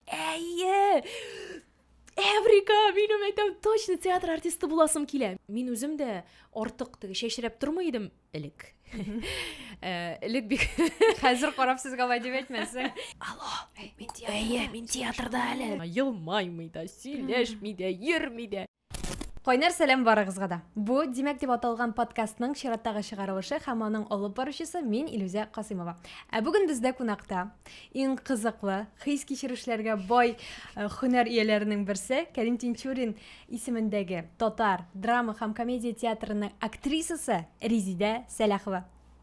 Әйе! Эврика, минем әйтәм, точно театр артисты буласым килә. Мин үзем дә артык теге чәчрәп тормый идем элек. Э, элек бик хәзер карап сезгә алай дип әйтмәсен. Алло, мин театрда әле. Елмаймый да, сөйләшми дә, йөрми дә. Кайнар сәлам барыгызга да. Бу Димәк дип аталган подкастның чираттагы чыгарылышы һәм аның алып баручысы мин Илүзә Касыймова. Ә бүген бездә кунакта иң кызыклы, хис кичерешләргә бай э, хөнәр ияләренең берсе Кәрим Тинчурин исемендәге татар драма һәм комедия театрының актрисасы Резидә Сәләхова.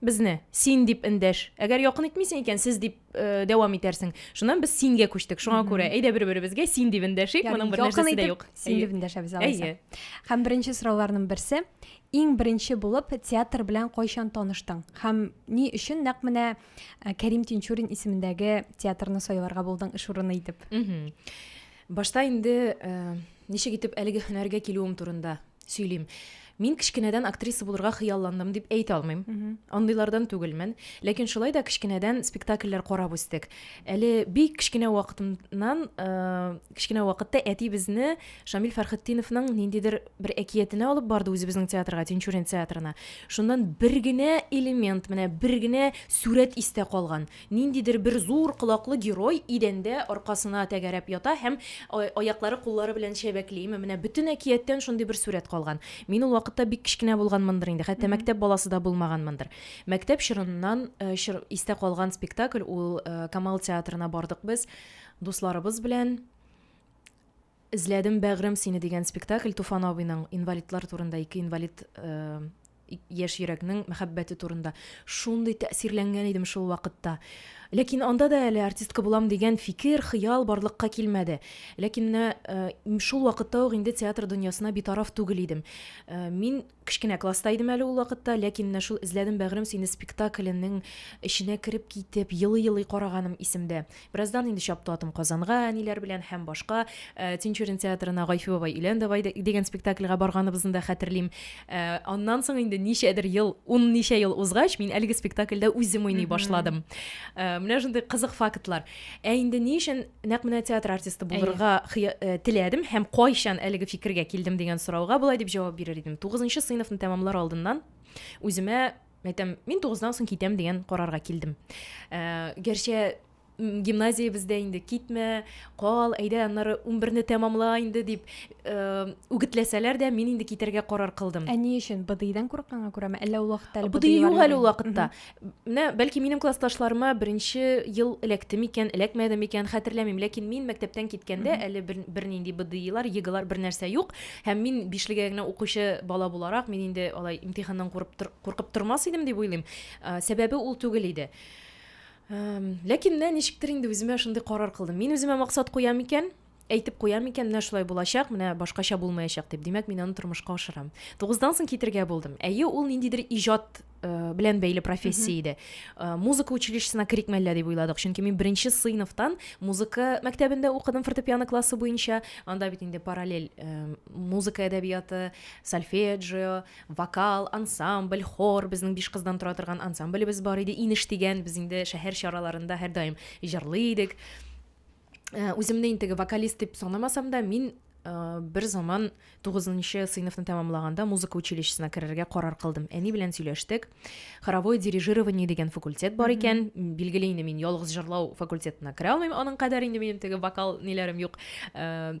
Безне син дип эндәш. Әгәр якын итмисең икән, сез дип э, дәвам итәрсең. Шуннан без сингә күчтек. Шуңа күрә әйдә бер-беребезгә син дип эндәшик. Моның бер нәрсәсе дә юк. Син дип эндәшәбез алайса. Һәм беренче сорауларның берсе, иң беренче булып театр белән кайчан таныштың? Һәм ни өчен нәкъ менә э, Кәрим Тинчурин исемендәге театрны сайларга булдың эш урыны итеп? Башта инде э, ничек итеп әлеге һөнәргә килүем турында сөйлим. Мин кечкенәдән актриса булырга хыялландым дип әйтә алмыйм. Андыйлардан түгелмен. Ләкин шулай да кечкенәдән спектакльләр карап үстек. Әле бик кечкенә вакытыннан, э, кечкенә вакытта әти безне Шамил Фәрхетдиновның ниндидер бер әкиятенә алып барды үзебезнең театрга, Тинчурин театрына. Шуннан бер генә элемент, менә бер генә сурәт истә калган. Ниндидер бер зур колаклы герой идәндә аркасына тәгәрәп ята һәм аяклары-куллары белән чәбәкли. Менә бөтен әкияттән шундый бер сурәт калган. Мин ул вакытта бик кечкенә булганмындыр инде, хәтта мәктәп баласы да булмаганмындыр. Мәктәп чорыннан истә калган спектакль ул, Камал театрына бардык без дусларыбыз белән. Эзләдем, бәгърем, сине дигән спектакль Туфан абыйның инвалидлар турында, ике инвалид яшь йөрәкнең мәхәббәте турында шундый тәэсирләнгән идем шул вакытта. Ләкин анда да әле артистка булам дигән фикер, хыял барлыкка килмәде. Ләкин менә э, шул вакытта ук инде театр дөньясына битараф түгел идем. Э, мин Кечкенә класста идем әле ул вакытта, ләкин менә шул Эзләдем, бәгърем, сине спектакленең эченә кереп китеп, елый-елый караганым исемдә. Бераздан инде чапты атым Казанга, әниләр белән һәм башка Тинчурин театрына Гайфи бабай, өйлән давай дигән спектакльгә барганыбызны да хәтерлим. Аннан соң инде ничәдер ел, ун ничә ел узгач, мин әлеге спектакльдә үзем уйный башладым. Менә шундый кызык фактлар. Ә инде ни өчен нәкъ менә театр артисты булырга э, теләдем һәм кайчан әлеге фикергә килдем дигән сорауга болай дип җавап бирер идем тугызынчы сыйныфны тәмамлар алдыннан үземә әйтәм мин тугыздан соң китәм дигән карарга килдем ә, гәрчә гимназиябездә инде китмә кал әйдә аннары унберне тәмамла инде дип э, үгетләсәләр дә мин инде китәргә карар кылдым ә ни өчен быдыйдан курыкканга күрәме әллә ул вакытта әле быдый юк әле ул вакытта Менә, бәлки, минем классташларыма беренче ел эләкте микән, эләкмәде микән, хәтерләмим. Ләкин мин мәктәптән киткәндә әле бер, бернинди БДИлар, ЕГЭлар бернәрсә юк. Һәм мин бишлегә генә укучы бала буларак, мин инде алай имтиханнан курып, куркып тормас идем дип уйлыйм. Сәбәбе ул түгел иде. Ләкин менә ничектер инде үземә шундый карар кылдым. Мин үземә максат куям икән, Әйтеп куям икән, менә шулай булачак, менә башкача булмаячак дип. Димәк, мин аны тормышка ашырам. Тугыздан соң китергә булдым. Әйе, ул ниндидер иҗат э, белән бәйле профессия иде. Э, музыка училищесына керик мәллә дип уйладык, чөнки мин беренче сыйныфтан музыка мәктәбендә укыдым фортепиано классы буенча. Анда бит инде параллель э, музыка әдәбияты, сольфеджио, вокал, ансамбль, хор, безнең биш кыздан тора торган ансамблебез бар иде, Инеш дигән, без инде шәһәр чараларында һәрдаим җырлый идек. Э, үземне инде теге вокалист дип санамасам да мин э, бер заман тугызынчы сыйныфны тәмамлаганда музыка училищесына керергә карар кылдым әни белән сөйләштек хоровое дирижирование дигән факультет бар икән билгеле инде мин ялгыз җырлау факультетына керә алмыйм аның кадәр инде минем теге вокал ниләрем юк э,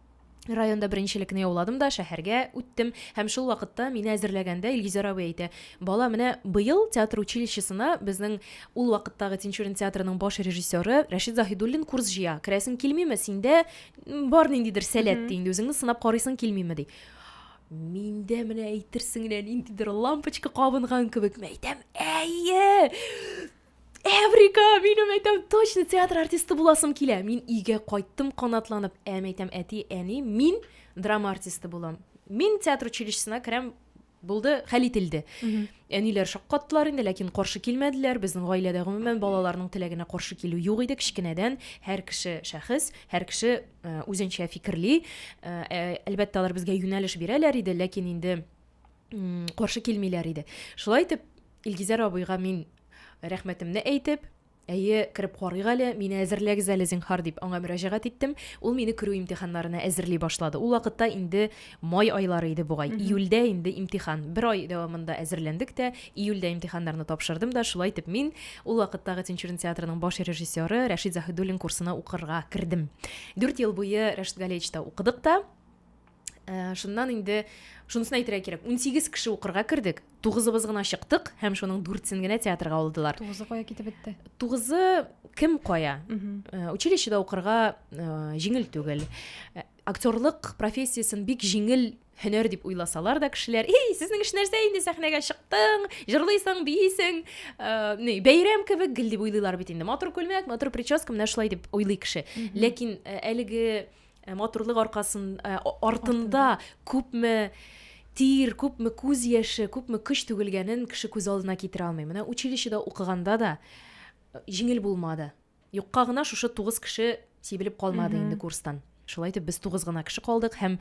Районда беренчелекне яуладым да шәһәргә үттем һәм шул вакытта мине әзерләгәндә Илгизәр абый әйтә, бала, менә быел театр училищесына безнең ул вакыттагы Тинчурин театрының баш режиссеры Рәшит Заһидуллин курс җыя, керәсең килмиме, синдә бар ниндидер сәләт, ди, инде үзеңне сынап карыйсың килмиме, ди. Миндә менә әйтерсең лә ниндидер лампочка кабынган кебек, мин әйтәм, әйе! Эврика, минем әйтәм, точно театр артисты буласым килә. Мин өйгә кайттым канатланып. Әм әйтәм, әти, әни, мин драма артисты булам. Мин театр училищесына керәм, булды, хәл ителде. Әниләр шаккаттылар инде, ләкин каршы килмәделәр. Безнең гаиләдә гомумән балаларның теләгенә каршы килү юк иде кечкенәдән. Һәр кеше шәхес, һәр кеше э, үзенчә фикерли. Э, э, Әлбәттә, алар безгә юнәлеш бирәләр иде, ләкин инде м, каршы килмиләр иде. Шулай итеп, Илгизәр абыйга мин рәхмәтемне әйтеп, Әйе, кереп карыйк әле, мине әзерләгез әле, зинһар, дип аңа мөрәҗәгать иттем. Ул мине керү имтиханнарына әзерли башлады. Ул вакытта инде май айлары иде бугай. Июльдә инде имтихан. Бер ай дәвамында әзерләндек тә, июльдә имтиханнарны тапшырдым да, шулай итеп мин ул вакыттагы Тинчурин театрының баш режиссеры Рәшит Заһидуллин курсына укырга кердем. Дүрт ел буе Рәшит Галиевичта укыдык та. Ә, шуннан инде шунысын әйтергә кирәк. 18 кеше укырга кердек, тугызыбыз гына чыктык һәм шуның дүртсен генә театрга алдылар. Тугызы кая китеп бетте? Тугызы кем кая? Э, училищеда укырга э, җиңел түгел. Э, актерлык профессиясен бик җиңел һөнәр дип уйласалар да кешеләр эй сезнең эш нәрсә инде сәхнәгә чыктың җырлыйсың бийсең э, бәйрәм кебек гел дип уйлыйлар бит инде матур күлмәк матур прическа менә шулай дип уйлый кеше ләкин э, әлеге Ә матурлык аркасын, ә, а- артында күпме тир, күпме күз яше, күпме көч түгелгәнен кеше күз алдына китерә алмый. Менә училищеда укыганда да э, җиңел булмады. Юкка гына шушы тугыз кеше сибелеп калмады Мгм. инде курстан. Шулай итеп без тугыз гына кеше калдык һәм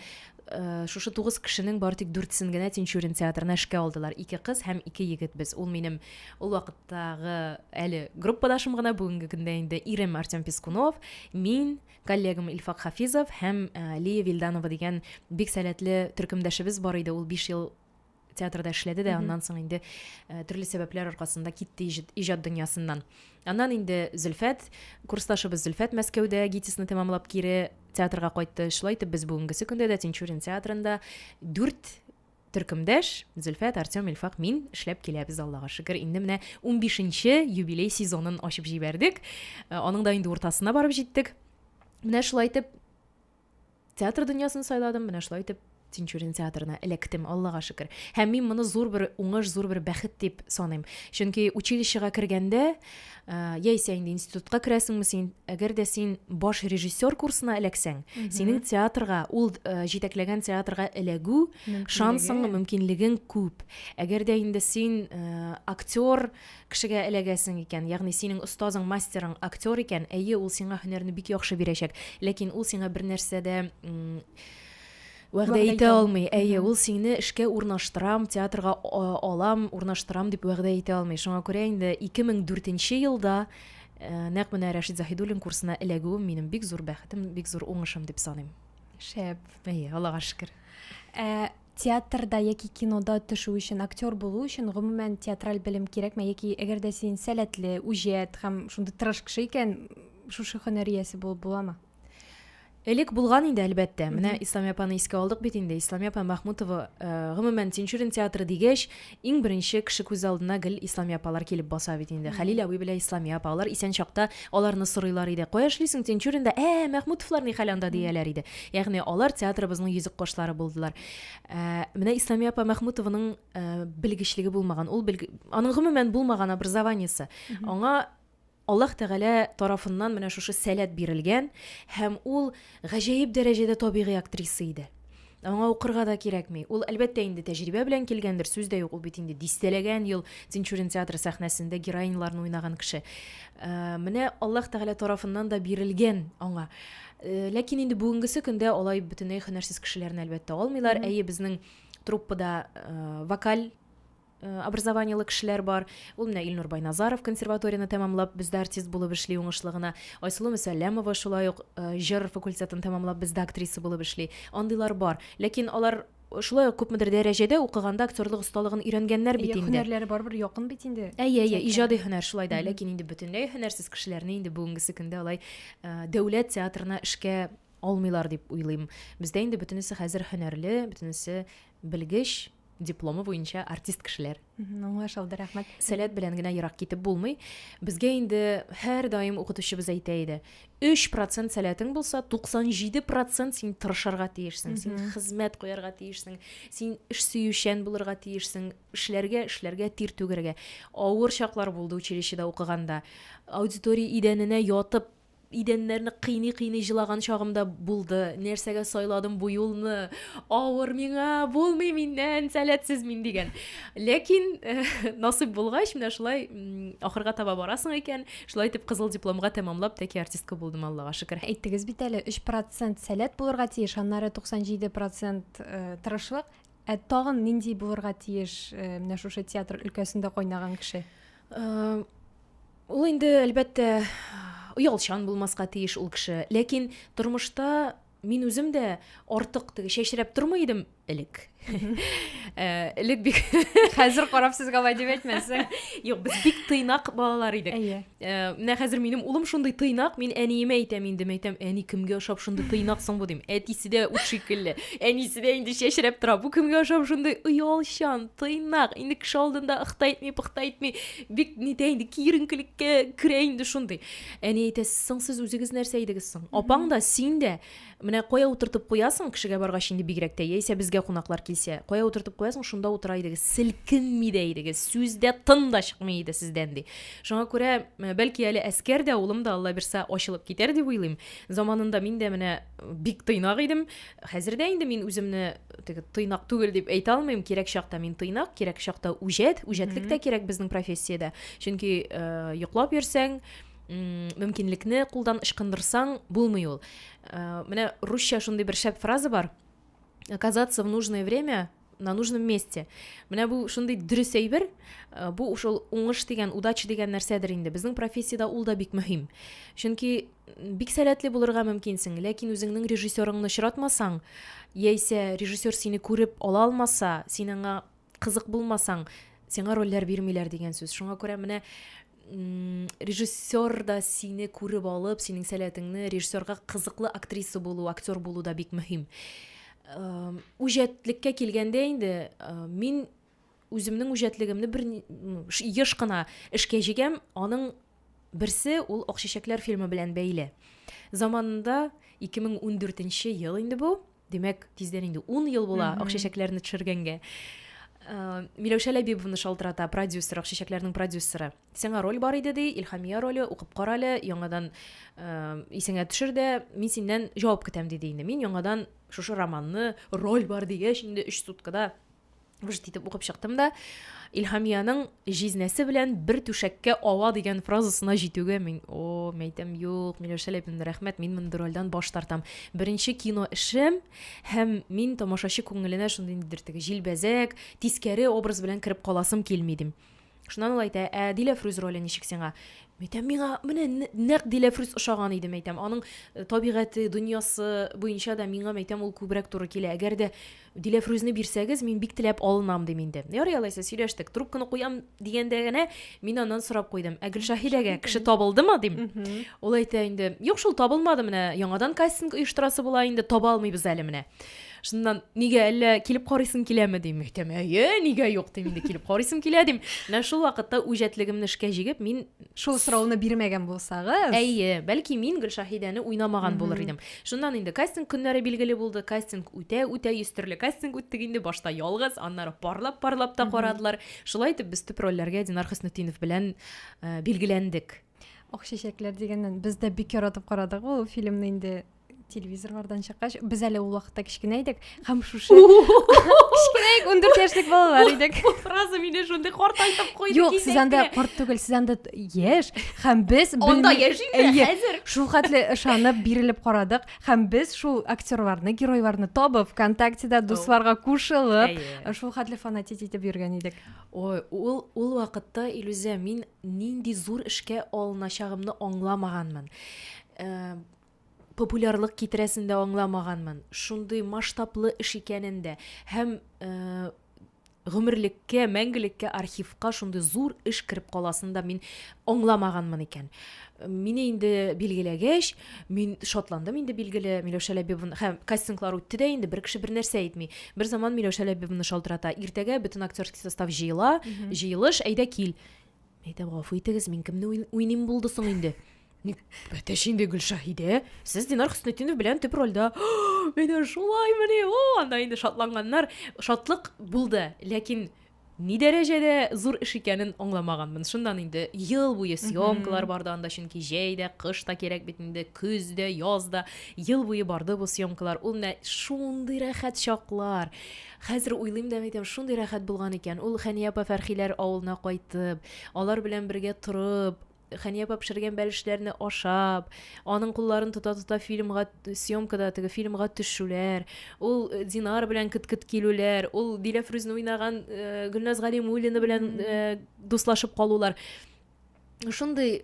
э, шушы тугыз кешенең бары тик дүртесен генә Тинчурин театрына эшкә алдылар. Ике кыз һәм ике егет без. Ул минем ул вакыттагы әле группадашым гына, бүгенге көндә инде ирем Артем Пискунов, мин, коллегам Илфак Хафизов һәм Лия Вильданова дигән бик сәләтле төркемдәшебез бар иде. Ул 5 ел театрда эшләде дә, аннан соң инде төрле сәбәпләр аркасында китте иҗат дөньясыннан. Аннан инде Зөлфәт, курсташыбыз Зөлфәт Мәскәүдә ГИТИСны тәмамлап кире театрга кайтты. Шулай итеп без бүгенгесе көндә дә Тинчурин театрында дүрт Төркемдәш, Зөлфәт, Артем, Илфак, мин эшләп киләбез, Аллага шөкер. Инде менә 15 нче юбилей сезонын ачып җибәрдек. Э, аның да инде уртасына барып җиттек. Менә шулай итеп театр дөньясын сайладым, менә шулай итеп Тинчурин театрына эләктем, Аллага шөкер. Һәм мин моны зур бер уңыш, зур бер бәхет дип саныйм. Чөнки училищега кергәндә, Ә, яисә инде институтка керәсеңме син әгәр дә син баш режиссер курсына эләксәң синең театрга ул ә, җитәкләгән театрга эләгү шансың мөмкинлегең күп әгәр дә инде син ә, актер кешегә эләгәсең икән ягъни синең остазың мастерың актер икән әйе ул сиңа һөнәрне бик яхшы бирәчәк ләкин ул сиңа бер нәрсә дә Вәгъдә итә алмый. Әйе, ул сине эшкә урнаштырам, театрга алам, урнаштырам дип вәгъдә итә алмый. Шуңа күрә инде 2004 елда нәкъ менә Рәшит Заһидуллин курсына эләгүем минем бик зур бәхетем, бик зур уңышым дип саныйм. Шәп. Әйе, Аллага шөкер. Ә театрда яки кинода төшү өчен, актер булу өчен гомумән театраль белем кирәкме яки әгәр дә син сәләтле, үҗәт һәм шундый тырыш кеше икән, шушы һөнәр иясе булып буламы? Элек булган инде, әлбәттә. Менә Исламия апаны искә алдык бит инде. Исламия апа Мәхмүтова, э, гомумән, Тинчурин театры дигәч, иң беренче кеше күз алдына гел Исламия апалар килеп баса бит инде. Хәлил абый белән Исламия апа, алар исән чакта аларны сорыйлар иде. Кая эшлисең Тинчуринда? Ә, Мәхмүтовлар ни хәл анда дияләр иде. Ягъни алар театрыбызның йөзек кошлары булдылар. Э, менә Исламия апа Мәхмүтованың э, белгечлеге булмаган. Ул белг... аның гомумән булмаган образованиесе. Аңа Аллаһ Тәгалә тарафыннан менә шушы сәләт бирелгән һәм ул гаҗәеп дәрәҗәдә табигый актриса иде. Аңа укырга да кирәкми. Ул, әлбәттә, инде тәҗрибә белән килгәндер, сүз дә юк, ул бит инде дистәләгән ел Тинчурин театры сәхнәсендә героиняларны уйнаган кеше. Э, менә Аллаһ Тәгалә тарафыннан да бирелгән аңа. Э, ләкин инде бүгенгесе көндә алай бөтенләй һөнәрсез кешеләрне, әлбәттә, алмыйлар. Әйе, безнең труппада э, вокаль Э, образованиелы кешеләр бар ул менә илнур байназаров консерваторияне тәмамлап бездә артист булып эшли уңышлы гына айсылу мөсәлләмова шулай ук э, җыр факультетын тәмамлап бездә актриса булып эшли андыйлар бар ләкин алар шулай ук күпмедер дәрәҗәдә укыганда актерлык осталыгын өйрәнгәннәр бит инде һөнәрләре барыбер якын бит инде әйе әйе иҗади һөнәр шулай да ләкин инде бөтенләй һөнәрсез кешеләрне инде бүгенгесе көндә алай э, дәүләт театрына эшкә алмыйлар дип уйлыйм бездә инде бөтенесе хәзер һөнәрле бөтенесе белгеч дипломы буенча артист кешеләр. Аңлаш алды, рәхмәт. Сәләт белән генә ерак китеп булмый. Безгә инде һәр даим укытучыбыз әйтә иде. 3% сәләтең булса, 97% син тырышырга тиешсең, син хезмәт куярга тиешсең, син эш сөючән булырга тиешсең, эшләргә, эшләргә, тир түгәргә. Авыр чаклар булды училищеда укыганда. Аудитория идәненә ятып идәннәрне кыйный-кыйный җылаган чагым да булды. Нәрсәгә сайладым бу юлны? Авыр миңа, булмый миннән, сәләтсез мин дигән. Ләкин э, насыйп булгач, менә шулай ахырга таба барасың икән, шулай итеп кызыл дипломга тәмамлап тәки артистка булдым, Аллага шөкер. Әйттегез бит әле, 3% сәләт булырга тиеш, аннары 97% э, тырышлык. Ә тагын нинди булырга тиеш э, менә шушы театр өлкәсендә кайнаган кеше? Э, Ул инде, әлбәттә, оялчан булмаска тиеш ул кеше. Ләкин тормышта мин үзем дә артык теге чәчрәп тормый идем элек. Э, элек бик хәзер карап сезгә алай дип әйтмәсәң. Юк, без бик тыйнак балалар идек. Әйе. Э, менә хәзер минем улым шундый тыйнак, мин әниемә әйтәм инде, мин әйтәм, әни кемгә ошап шундый тыйнак соң бу дим. Әтисе дә ут шикелле. Әнисе дә инде чәчрәп тора. Бу кемгә ошап шундый оялчан, тыйнак, инде кеше алдында ыхта итми, пыхта итми. Бик нитә инде киеренкелеккә керә инде шундый. Әни әйтә, соң сез үзегез нәрсә идегез соң? Апаң да, син дә менә кая утыртып куясың, кешегә баргач инде бигрәк тә, яисә безгә кунаклар килсә, кая утыртып куясың, шунда утыра идегез. Селкенми дә идегез, сүз дә тын да чыкмый иде сездән ди. Шуңа күрә, бәлки әле әскәр дә, улым да Алла бирса ачылып китәр дип уйлыйм. Заманында мин дә менә бик тыйнак идем хәзер дә инде мин үземне теге тыйнак түгел дип әйтә алмыйм кирәк чакта мин тыйнак кирәк чакта үҗәт үҗәтлек тә кирәк безнең профессиядә чөнки э, йоклап йөрсәң мөмкинлекне кулдан ычкындырсаң булмый ул э, менә русча шундый бер шәп фраза бар оказаться в нужное время на нужном месте менә бу шундый дөрес әйбер э, бу ошол уңыш дигән удача дигән нәрсәдер инде безнең профессиядә ул да бик мөһим чөнки бик сәләтле булырга мөмкинсең ләкин үзеңнең режиссерыңны очратмасаң яисә режиссер сине күреп ала алмаса син аңа кызык булмасаң, сиңа рольләр бирмиләр дигән сүз. Шуңа күрә менә режиссер да сине күреп алып, синең сәләтеңне режиссерга кызыклы актриса булу, актер булу да бик мөһим. Үҗәтлеккә килгәндә инде мин үземнең үҗәтлегемне бер еш кына эшкә җигәм, аның берсе ул Акчәчәкләр фильмы белән бәйле. Заманында 2014 ел инде бу. Димәк, тиздән инде ун ел була Акчәчәкләрне төшергәнгә. Э, Миләүшә Ләбибовны шалтырата, продюсер, Акчәчәкләрнең продюсеры. Сиңа роль бар иде, ди, Илхамия роле, укып кара әле, яңадан э, исеңә төшер дә, мин синнән җавап көтәм, диде инде. Мин яңадан шушы романны, роль бар дигәч, инде өч суткада Вжт итеп укып чыктым да, Илһамиянең җизнәсе белән бер түшәккә ава дигән фразасына җитүгә мин, о, мәйтәм, юк, Миләүшә Ләпинна, рәхмәт, мин мондый рольдән баш тартам. Беренче кино эшем һәм мин тамашачы күңеленә шундый ниндидер теге җилбәзәк, тискәре образ белән кереп каласым килми дим. Шуннан ул әйтә, ә Диләфрүз роле ничек сиңа? Әйтәм, миңа менә нәкъ Диләфрүз ошаган иде, әйтәм. Аның э, табигате, дөньясы буенча да миңа, әйтәм, ул күбрәк туры килә. Әгәр дә Диләфрүзне бирсәгез, мин бик теләп алынам, дим инде. Ярый алайса, сөйләштек. Трубканы куям дигәндә генә мин аннан сорап куйдым. Ә Гөлшаһидәгә кеше табылдымы, дим. Ул әйтә инде, юк шул табылмады менә, яңадан кастинг оештырасы була инде, таба алмыйбыз әле менә. шуннан нигә әллә килеп карыйсың киләме дим әйтәм әйе нигә юк дим инде килеп карыйсым килә дим менә шул вакытта үҗәтлегемне эшкә җигеп мин шул сорауны бирмәгән булсагыз әйе бәлки мин гөлшаһидәне уйнамаган булыр идем шуннан инде кастинг көннәре билгеле булды кастинг үтә үтә йөз төрле кастинг үттек инде башта ялгыз аннары парлап парлап та карадылар шулай итеп без төп рольләргә динар хөснетдинов белән э, билгеләндек ак чәчәкләр дигәннән без дә бик яратып карадык ул фильмны инде телевизорлардан чыккач без әле ул вакытта кечкенә идек һәм шушы кечкенә идек ундүрт яшьлек балалар идек фраза мине шундый картайтып куйды юк сез анда карт түгел сез анда яшь һәм без анда яшь инде хәзер шул хәтле ышанып бирелеп карадык һәм без шул актерларны геройларны табып вконтактеда дусларга кушылып шул хәтле фанатить итеп йөргән идек ой ул ул вакытта илүзә мин нинди зур эшкә алыначагымны аңламаганмын популярлык китерәсен дә аңламаганмын. Шундый масштаблы эш икәнен дә һәм э, гомерлеккә, мәңгелеккә архивка шундый зур эш кереп каласын да мин аңламаганмын икән. Мине инде билгеләгәч, мин шатландым инде билгеле Миләүшә Ләбибовна һәм кастинглар үтте дә инде бер кеше бер нәрсә әйтми. Бер заман Миләүшә Ләбибовна шалтырата. Иртәгә бөтен актерский состав җыела, җыелыш, әйдә кил. Әйдә, гафу итегез, мин кемне уйныйм булды соң инде? Ник бәтәш инде Гөлшаһидә? Сез Динар Хөснетдинов белән төп рольдә. Менә шулай менә. О, анда инде шатланганнар. Шатлык булды, ләкин ни дәрәҗәдә зур эш икәнен аңламаганмын. Шуннан инде ел буе съемкалар барды анда, чөнки җәй дә, кыш та кирәк бит инде, көз дә, яз да. Ел буе барды бу съемкалар. Ул менә шундый рәхәт чаклар. Хәзер уйлыйм да әйтәм, шундый рәхәт булган икән. Ул Хәния апа Фәрхиләр авылына кайтып, алар белән бергә торып, Хәния апа пешергән бәлешләрне ашап, аның кулларын тота-тота фильмга съемкада теге фильмга төшүләр, ул э, Динар белән кет-кет килүләр, ул Диләфрүзне уйнаган э, Гөлназ Галимуллина белән э, дуслашып калулар. шундый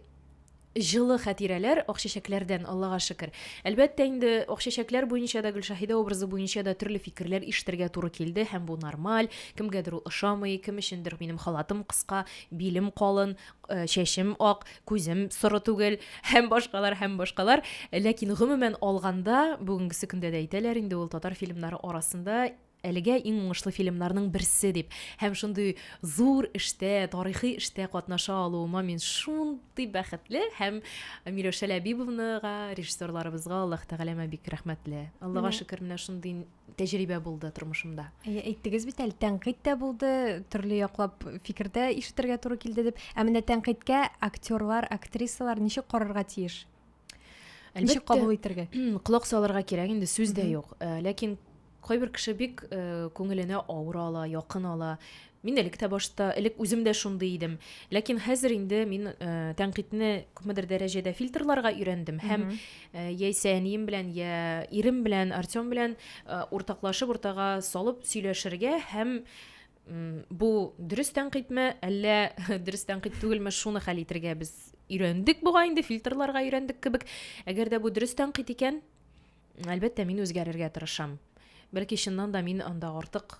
җылы хәтирәләр Акчәчәкләрдән, Аллага шөкер. Әлбәттә инде, Акчәчәкләр буенча да, Гөлшаһидә образы буенча да төрле фикерләр ишетергә туры килде, һәм бу нормаль, кемгәдер ул ошамый, кем өчендер минем халатым кыска, билем калын, э, чәчем ак, күзем соры түгел, һәм башкалар, һәм башкалар. Ләкин гомумән алганда, бүгенгесе көндә дә әйтәләр инде, ул татар фильмнары арасында Әлегә иң уңышлы фильмнарның берсе дип һәм шундый зур эштә, тарихи эштә катнаша алуыма мин шундый бәхетле һәм Миләүшә Ләбибовнага, режиссерларыбызга Аллаһ Тәгаләмә бик рәхмәтле. Аллага Менә. шөкер, менә шундый тәҗрибә булды тормышымда. Әйе, әйттегез бит әле, тәнкыйть тә булды, төрле яклап фикер дә ишетергә туры килде дип. Ә менә тәнкыйтькә актерлар, актрисалар ничек карарга тиеш? Ничек кабул итәргә? Колак салырга кирәк, инде сүз дә юк. Э, ләкин Кайбер кеше бик күңеленә авыр ала, якын ала. Мин элек тә башта, элек үзем дә шундый идем. Ләкин хәзер инде мин тәнкыйтьне күпмедер дәрәҗәдә фильтрларга өйрәндем һәм яисә әнием белән, я ирем белән, Артем белән уртаклашып, уртага салып сөйләшергә һәм бу дөрес тәнкыйтьме, әллә дөрес тәнкыйть түгелме, шуны хәл итергә без өйрәндек бугай инде, фильтрларга өйрәндек кебек. Әгәр дә бу дөрес тәнкыйть икән, Әлбәттә, мин үзгәрергә тырышам. Бәлки, чыннан да мин анда артык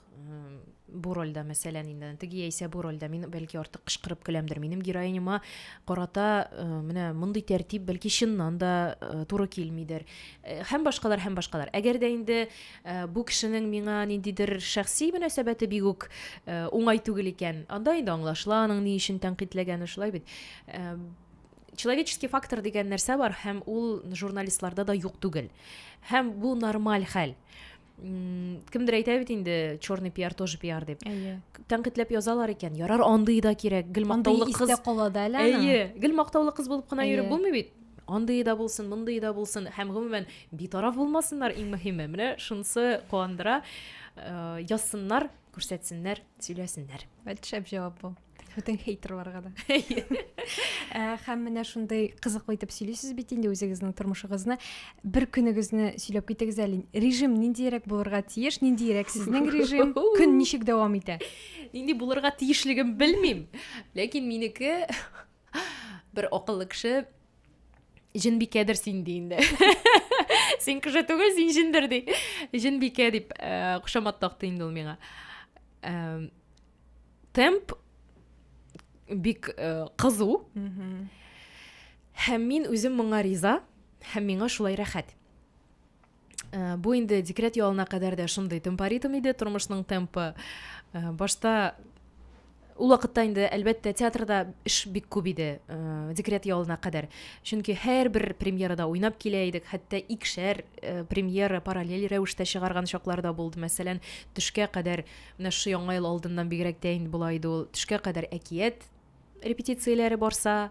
бу рольдә, мәсәлән, инде теге яисә бу рольдә мин бәлки артык кычкырып көләмдер. Минем героиняма карата э, менә мондый тәртип бәлки чыннан да э, туры килмидер. Э, һәм башкалар, һәм башкалар. Әгәр дә инде бу кешенең миңа ниндидер шәхси мөнәсәбәте бик үк уңай түгел икән, анда инде аңлашыла аның ни өчен тәнкыйтьләгәне, шулай бит. человеческий фактор дигән нәрсә бар һәм ул журналистларда да юк түгел һәм бу нормаль хәл кемдер әйтә бит инде черный пиар тоже пиар дип әйе тәнкыйтьләп язалар икән ярар андый да кирәк гел мактаулы кыз кала да әле әйе гел мактаулы кыз булып кына йөреп булмый бит андый да булсын мондый да булсын һәм гомумән битараф булмасыннар иң мөһиме менә шунысы куандыра э, язсыннар күрсәтсеннәр сөйләсеннәр шәп җавап бу бөтен хейтерларга да ә, һәм менә шундый кызыклы итеп сөйлисез бит инде үзегезнең тормышыгызны бер көнегезне сөйләп китегез әле режим ниндиерәк булырга тиеш ниндиерәк сезнең режим көн ничек дәвам итә нинди булырга тиешлеген белмим ләкин минеке бер акыллы кеше җенбикәдер син ди инде син кеше түгел син җендер ди җенбикә дип э, кушамат такты инде ул миңа темп бик э, кызу һәм мин үзем моңа риза һәм миңа шулай рәхәт э, бу инде декрет ялына кадәр дә шундый темпоритм иде тормышның темпы э, башта ул вакытта инде әлбәттә театрда эш бик күп иде ә, декрет ялына кадәр чөнки һәрбер премьерада уйнап килә идек хәтта икшәр ә, премьера параллель рәвештә чыгарган чаклар да булды мәсәлән төшкә кадәр Менә шушы Яңа ел алдыннан бигрәк тә инде болай иде ул. Төшкә кадәр әкият репетицияләре барса,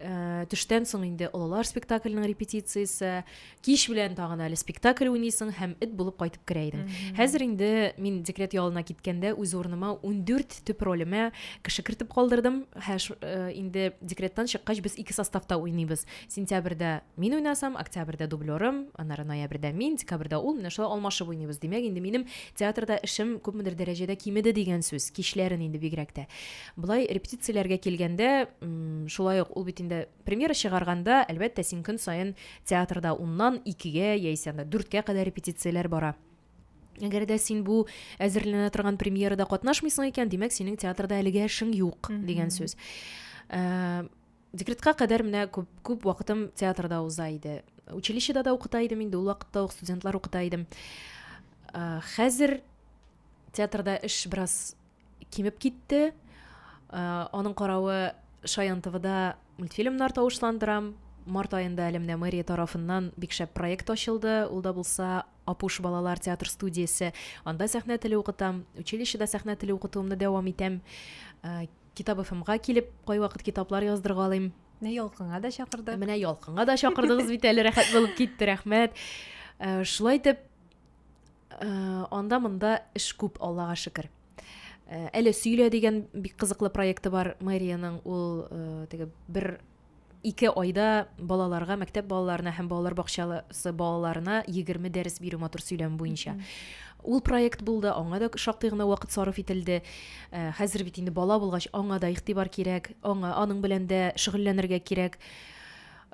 Э, төштән соң инде олылар спектакльнең репетициясе кич белән тагын әле спектакль уйныйсың һәм эт булып кайтып керә идең хәзер инде мин декрет ялына киткәндә үз урыныма ундүрт төп ролемә кеше кертеп калдырдым һә э, инде декреттан чыккач без ике составта уйныйбыз сентябрьдә мин уйнасам октябрьдә дублерым аннары ноябрьдә мин декабрьдә ул менә шулай алмашып уйныйбыз димәк инде минем Театрда эшем күпмедер дәрәҗәдә кимеде дигән сүз, кичләрен инде бигрәк тә. Болай репетицияләргә килгәндә, шулай ук ул бит инде премьера чыгарганда, әлбәттә, син көн саен театрда уннан икегә яисә анда дүрткә кадәр репетицияләр бара. Әгәр дә син бу әзерләнә торган премьерада катнашмыйсың икән, димәк, синең театрда әлегә эшең юк дигән сүз. Э, Декретка кадәр менә күп, күп вакытым театрда уза иде. Училищеда да укыта идем инде, ул вакытта ук студентлар укыта идем. Хәзер театрда эш бераз кимеп китте. Аның каравы Шаян ТВда мультфильмнар тавышландырам. Март аенда әле менә мэрия тарафыннан бик шәп проект ачылды. Ул да булса Апуш балалар театр студиясе. Анда сәхнә теле укытам. Училищеда сәхнә теле укытуымны дәвам итәм. Китап ФМга килеп, кайвакыт китаплар яздыргалыйм. Менә ялкынга да чакырдык. Менә ялкынга да чакырдыгыз бит әле рәхәт булып китте, рәхмәт. Э, шулай итеп, э, анда монда эш күп, Аллага шөкер. Э, әле сөйлә дигән бик кызыклы проекты бар мэриянең, ул теге бер Ике айда балаларга, мәктәп балаларына һәм балалар бакчасы балаларына 20 дәрес бирү матур сөйләм буенча. Ул проект булды, аңа да шактый гына вакыт сарыф ителде. Э, хәзер бит инде бала булгач, аңа да игътибар кирәк, аңа аның белән дә шөгыльләнергә кирәк.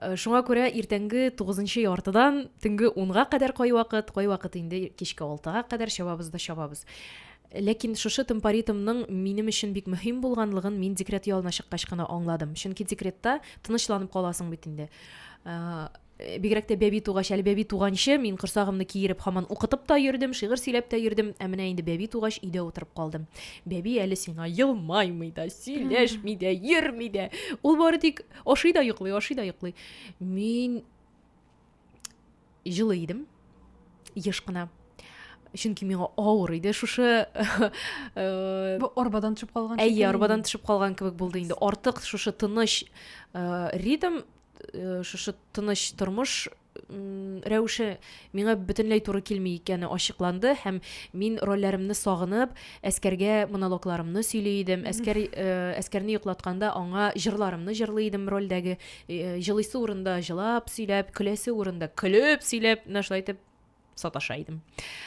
Э, шуңа күрә иртәнге тугызынчы яртыдан төнге унга кадәр кайвакыт, кайвакыт инде кичке алтыга кадәр чабабыз да чабабыз. Ләкин шушы темпоритмның минем өчен бик мөһим булганлыгын мин декрет ялына чыккач кына аңладым. Чөнки декретта тынычланып каласың бит инде. Э, бигрәк тә бәби тугач әле бәби туганчы мин корсагымны киереп һаман укытып та йөрдем шигырь сөйләп тә йөрдем ә менә инде бәби тугач өйдә утырып калдым бәби әле сиңа елмаймый да сөйләшми дә йөрми дә ул бары тик ашый да йоклый ашый да йоклый мин җылы идем еш кына чөнки миңа авыр иде шушы э, арбадан төшеп калган әйе арбадан төшеп калган кебек булды инде артык шушы тыныч э, ритм э, шушы тыныч тормыш рәвеше миңа бөтенләй туры килми икәне ачыкланды һәм мин рольләремне сагынып әскәргә монологларымны сөйли идем әскәр э, әскәрне йоклатканда аңа җырларымны җырлый идем рольдәге җылыйсы урында җылап сөйләп көләсе урында көлеп сөйләп менә шулай итеп саташа идем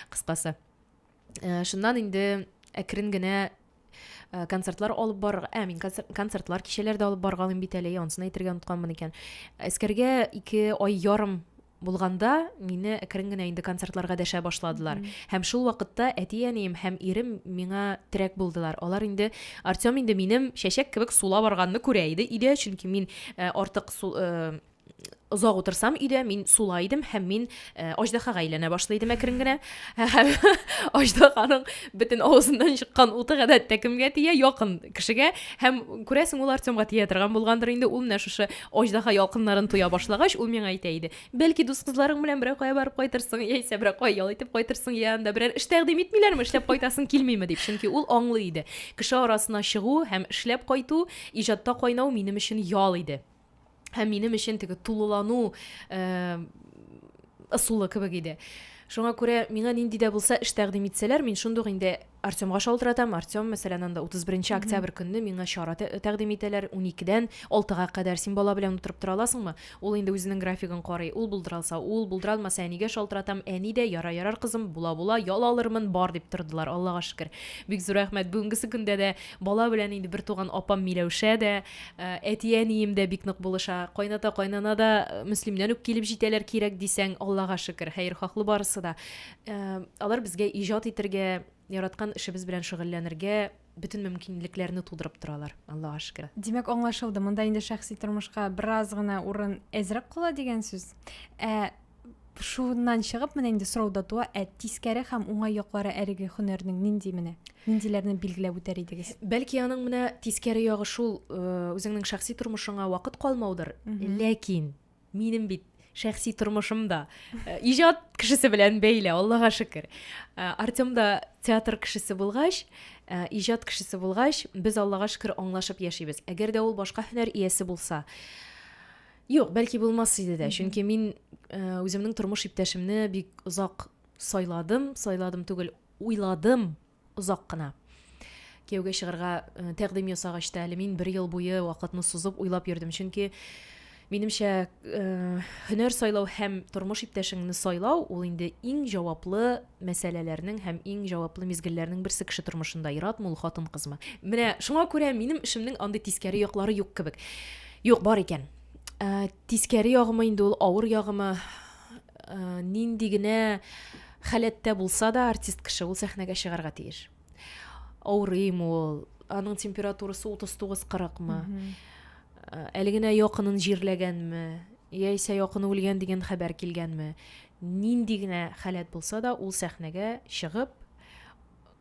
кыскасы э, шуннан инде әкрен генә э, концертлар алып барырга ә мин концертлар кичәләр дә алып баргалыйм бит әле анысын әйтергә онытканмын икән әскәргә ике ай ярым булганда мине әкрен генә инде концертларга дәшә башладылар һәм шул вакытта әти әнием һәм ирем миңа терәк булдылар алар инде артем инде минем чәчәк кебек сула барганны күрә иде өйдә чөнки мин э, артык э, озак утырсам өйдә мин сула идем һәм мин э, аждаһага әйләнә башлый идем әкрен генә һәм аждаһаның бөтен авызыннан чыккан уты гадәттә кемгә тия якын кешегә һәм күрәсең ул артемга тия торган булгандыр инде ул менә шушы Аҗдаһа ялкыннарын тоя башлагач, ул миңа әйтә иде, Бәлки, дус кызларың белән берәр кая барып кайтырсың, яисә берәр кая ял итеп кайтырсың, йә анда берәр эш тәкъдим итмиләрме, эшләп кайтасың килмиме, дип. Чөнки ул аңлый иде, кеше арасына чыгу һәм эшләп кайту, иҗатта кайнау минем өчен ял иде. Һәм минем өчен теге тулылану ысулы кебек иде. Шуңа күрә миңа нинди дә булса эш тәкъдим итсәләр, мин шундук инде Артемга шалтыратам, Артем, мәсәлән, анда 31 октябрь көнне миңа чара тәкъдим итәләр, 12-дән 6-га кадәр син бала белән утырып тора аласыңмы? Ул инде үзенең графигын карый, ул булдыра алса, ул, булдыра алмаса, әнигә шалтыратам, әни дә, ярар, ярар, кызым, була, була, ял алырмын, бар, дип тордылар, Аллага шөкер. Бик зур рәхмәт, бүгенгесе көндә дә бала белән инде бертуган апам Миләүшә дә, әти-әнием дә бик нык булыша, кайната-кайнана да Мөслимнән үк килеп җитәләр, кирәк дисәң, Аллага шөкер, хәерхаһлы барысы да. Алар безгә иҗат итәргә, яраткан эшебез белән шөгыльләнергә бөтен мөмкинлекләрне тудырып торалар, Аллага шөкер. Димәк, аңлашылды, монда инде шәхси тормышка бераз гына урын әзрәк кала дигән сүз. Ә шуннан чыгып, менә инде сорау да туа, ә тискәре һәм уңай яклары әлеге һөнәрнең нинди менә? Ниндиләрне билгеләп үтәр идегез? Бәлки аның менә тискәре ягы шул, э, үзеңнең шәхси тормышыңа вакыт калмаудыр, ләкин минем бит шәхси тормышым да э, иҗат кешесе белән бәйле аллага шөкер э, артем да театр кешесе булгач э, иҗат кешесе булгач без аллага шөкер аңлашып яшибез әгәр дә ул башка һөнәр иясе булса юк бәлки булмас иде дә чөнки мин үземнең тормыш иптәшемне бик озак сайладым сайладым түгел уйладым озак кына. Кияүгә чыгарга э, тәкъдим ясагач та әле мин бер ел буе вакытны сузып уйлап йөрдем, чөнки минемчә э, һөнәр сайлау һәм тормыш иптәшеңне сайлау ул инде иң җаваплы мәсьәләләрнең һәм иң җаваплы мизгелләрнең берсе кеше тормышында яратмы ул хатын кызмы менә шуңа күрә минем эшемнең андый тискәре яклары юк кебек юк бар икән ә, тискәре ягымы инде ул авыр ягымы ә, нинди генә Халәттә булса да, артист кеше ул сәхнәгә чыгарга тиеш. Авырыймы ул, аның температурасы 39-40-мы, э, әле генә якынын җирләгәнме, яисә якыны үлгән дигән хәбәр килгәнме, нинди генә халәт булса да, ул сәхнәгә чыгып,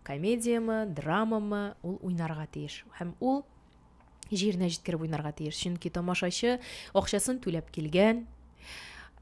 комедиямы, драмамы, ул уйнарга тиеш. Һәм ул җиренә җиткереп уйнарга тиеш. Чөнки тамашачы акчасын түләп килгән,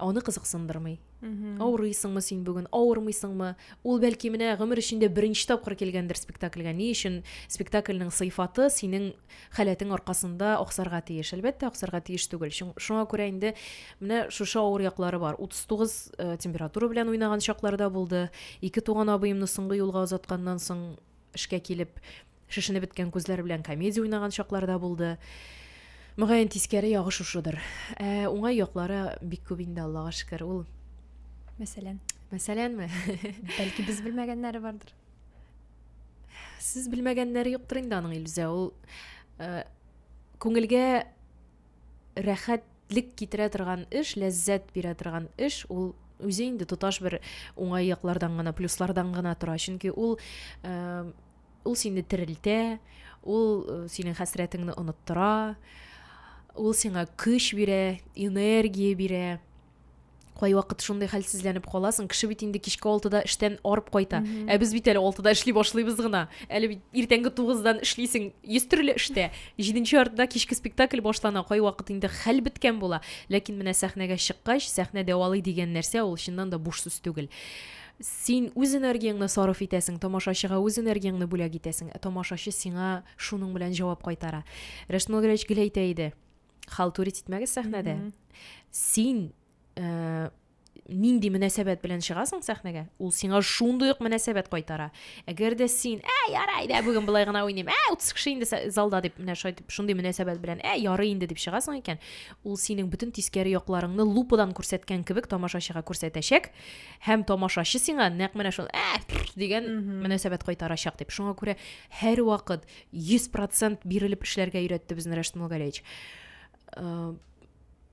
аны кызыксындырмый. Авырыйсыңмы син бүген, авырмыйсыңмы? Ул бәлки менә гомер эчендә беренче тапкыр килгәндер спектакльгә. Ни өчен спектакльнең сыйфаты синең халәтең аркасында аксарга тиеш? Әлбәттә, аксарга тиеш түгел. Шуңа күрә инде менә шушы авыр яклары бар. 39 э, температура белән уйнаган чакларда булды. Ике туган абыемны соңгы юлга озатканнан соң эшкә килеп, шешенеп беткән күзләр белән комедия уйнаган чаклар да булды. Мөгаен тискәре ягы шушыдыр. Ә уңай яклары бик күп инде, Аллага шөкер. Ул Мәсәлән, мәсәләнме? бәлки без белмәгәннәре бардыр. Сез белмәгәннәре юктыр инде аның Илүзә. Ул э, күңелгә рәхәтлек китерә торган эш, ләззәт бирә торган эш, ул үзе инде тоташ бер уңай яклардан гына, плюслардан гына тора. Чөнки ул э, ул сине терелтә, ул э, синең хәсрәтеңне оныттыра, ул сиңа көч бирә, энергия бирә. кайвакыт шундый хәлсезләнеп каласың кеше бит инде кичке алтыда эштән арып кайта mm -hmm. ә без бит әле алтыда эшли башлыйбыз гына әле бит иртәнге тугыздан эшлисең йөз төрле эштә җиденче яртыда кичке спектакль башлана кайвакыт инде хәл беткән була ләкин менә сәхнәгә чыккач сәхнә дәвалый дигән нәрсә ул чыннан да буш сүз түгел син үз энергияңне сарыф итәсең тамашачыга үз энергияңне бүләк итәсең ә тамашачы сиңа шуның белән җавап кайтара рәшмәл гәрәҗгел әйтә иде халтури титмәгез сәхнәдә mm -hmm. син ә, нинди мөнәсәбәт белән чыгасың сәхнәгә ул сиңа шундый ук мөнәсәбәт кайтара әгәр дә син ә ярай дә бүген болай гына уйныйм ә утыз кеше инде залда дип менә шайтып шундый мөнәсәбәт белән ә ярый инде дип чыгасың икән ул синең бөтен тискәре якларыңны лупадан күрсәткән кебек тамашачыга күрсәтәчәк һәм тамашачы сиңа нәкъ менә шул ә дигән мөнәсәбәт кайтарачак дип шуңа күрә һәрвакыт 100 процент бирелеп эшләргә өйрәтте безне Рәшит Мулгалевич. Э,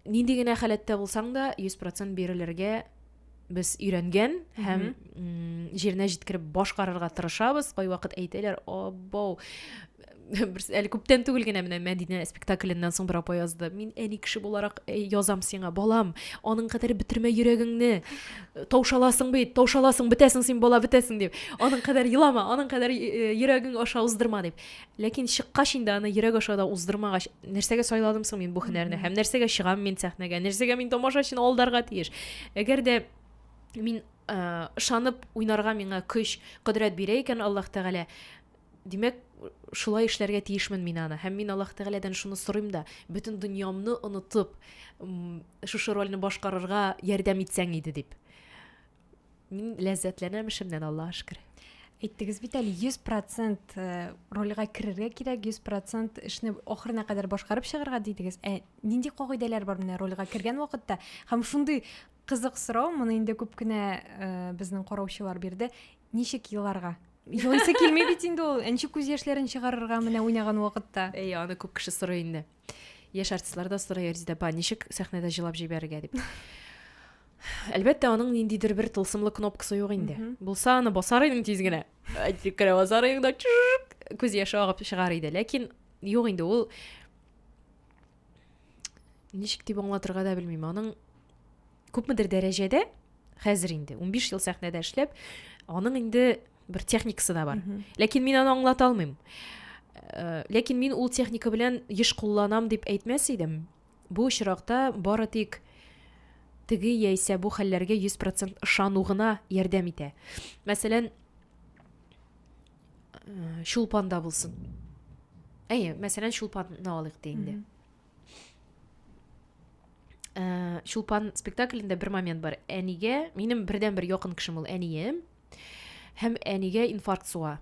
нинди генә халәттә булсаң да, 100 процент бирелергә без өйрәнгән һәм җиренә җиткереп башкарырга тырышабыз. Кайвакыт әйтәләр, "Абау, бер әле күптән түгел генә менә Мәдинә спектакльннән соң бер апа язды. Мин әни кеше буларак э, язам сиңа, балам, аның кадәр бетермә йөрәгеңне. таушаласың бит таушаласың бетәсең син бала бетәсең дип аның кадәр елама аның кадәр э, йөрәгең аша уздырма дип ләкин чыккач инде аны йөрәк аша да уздырмагач нәрсәгә сайладым соң мин бу һөнәрне һәм нәрсәгә чыгам мин сәхнәгә нәрсәгә мин тамашачыны алдарга тиеш әгәр дә мин э, ышанып уйнарга миңа көч кодрәт бирә икән аллаһ тәгалә Димәк, шулай эшләргә тиешмен мин аны. Һәм мин Аллаһ Тәгаләдән шуны сорыйм да, бөтен дөньямны онытып, шушы рольне башкарырга ярдәм итсәң иде дип. Мин ләззәтләнәм эшемнән, Аллаһ шөкер. Әйттегез бит әле 100% э, рольгә керергә кирәк, 100% эшне ахырына кадәр башкарып чыгарга дидегез. Ә нинди кагыйдәләр бар менә рольгә кергән вакытта? Һәм шундый кызык сорау, моны инде күп кенә э, безнең караучылар бирде. Ничек еларга? Елыйсы килми бит инде ул. Ничек күз яшьләрен чыгарырга менә уйнаган вакытта? Әй, аны күп кеше сорый инде. Яшь артистлар да сорый Резидә апа, ничек сәхнәдә җылап җибәрергә дип. Әлбәттә, аның ниндидер бер тылсымлы кнопкасы юк инде. Булса, аны басар идең тиз генә. Әйтик кенә басар идең да күз яше агып чыгар иде. Ләкин юк инде ул ничек дип аңлатырга да белмим аның күпмедер дәрәҗәдә хәзер инде 15 ел сәхнәдә эшләп аның инде бер техникасы да бар ләкин мин аны аңлата алмыйм э, ләкин мин ул техника белән еш кулланам дип әйтмәс идем бу очракта бары тик теге яисә бу хәлләргә 100% ышану гына ярдәм итә мәсәлән э, чулпанда булсын әйе мәсәлән чулпанны алыйк те инде э, чулпан спектаклендә бер момент бар әнигә минем бердән бер якын кешем ул әнием һәм әнигә инфаркт суга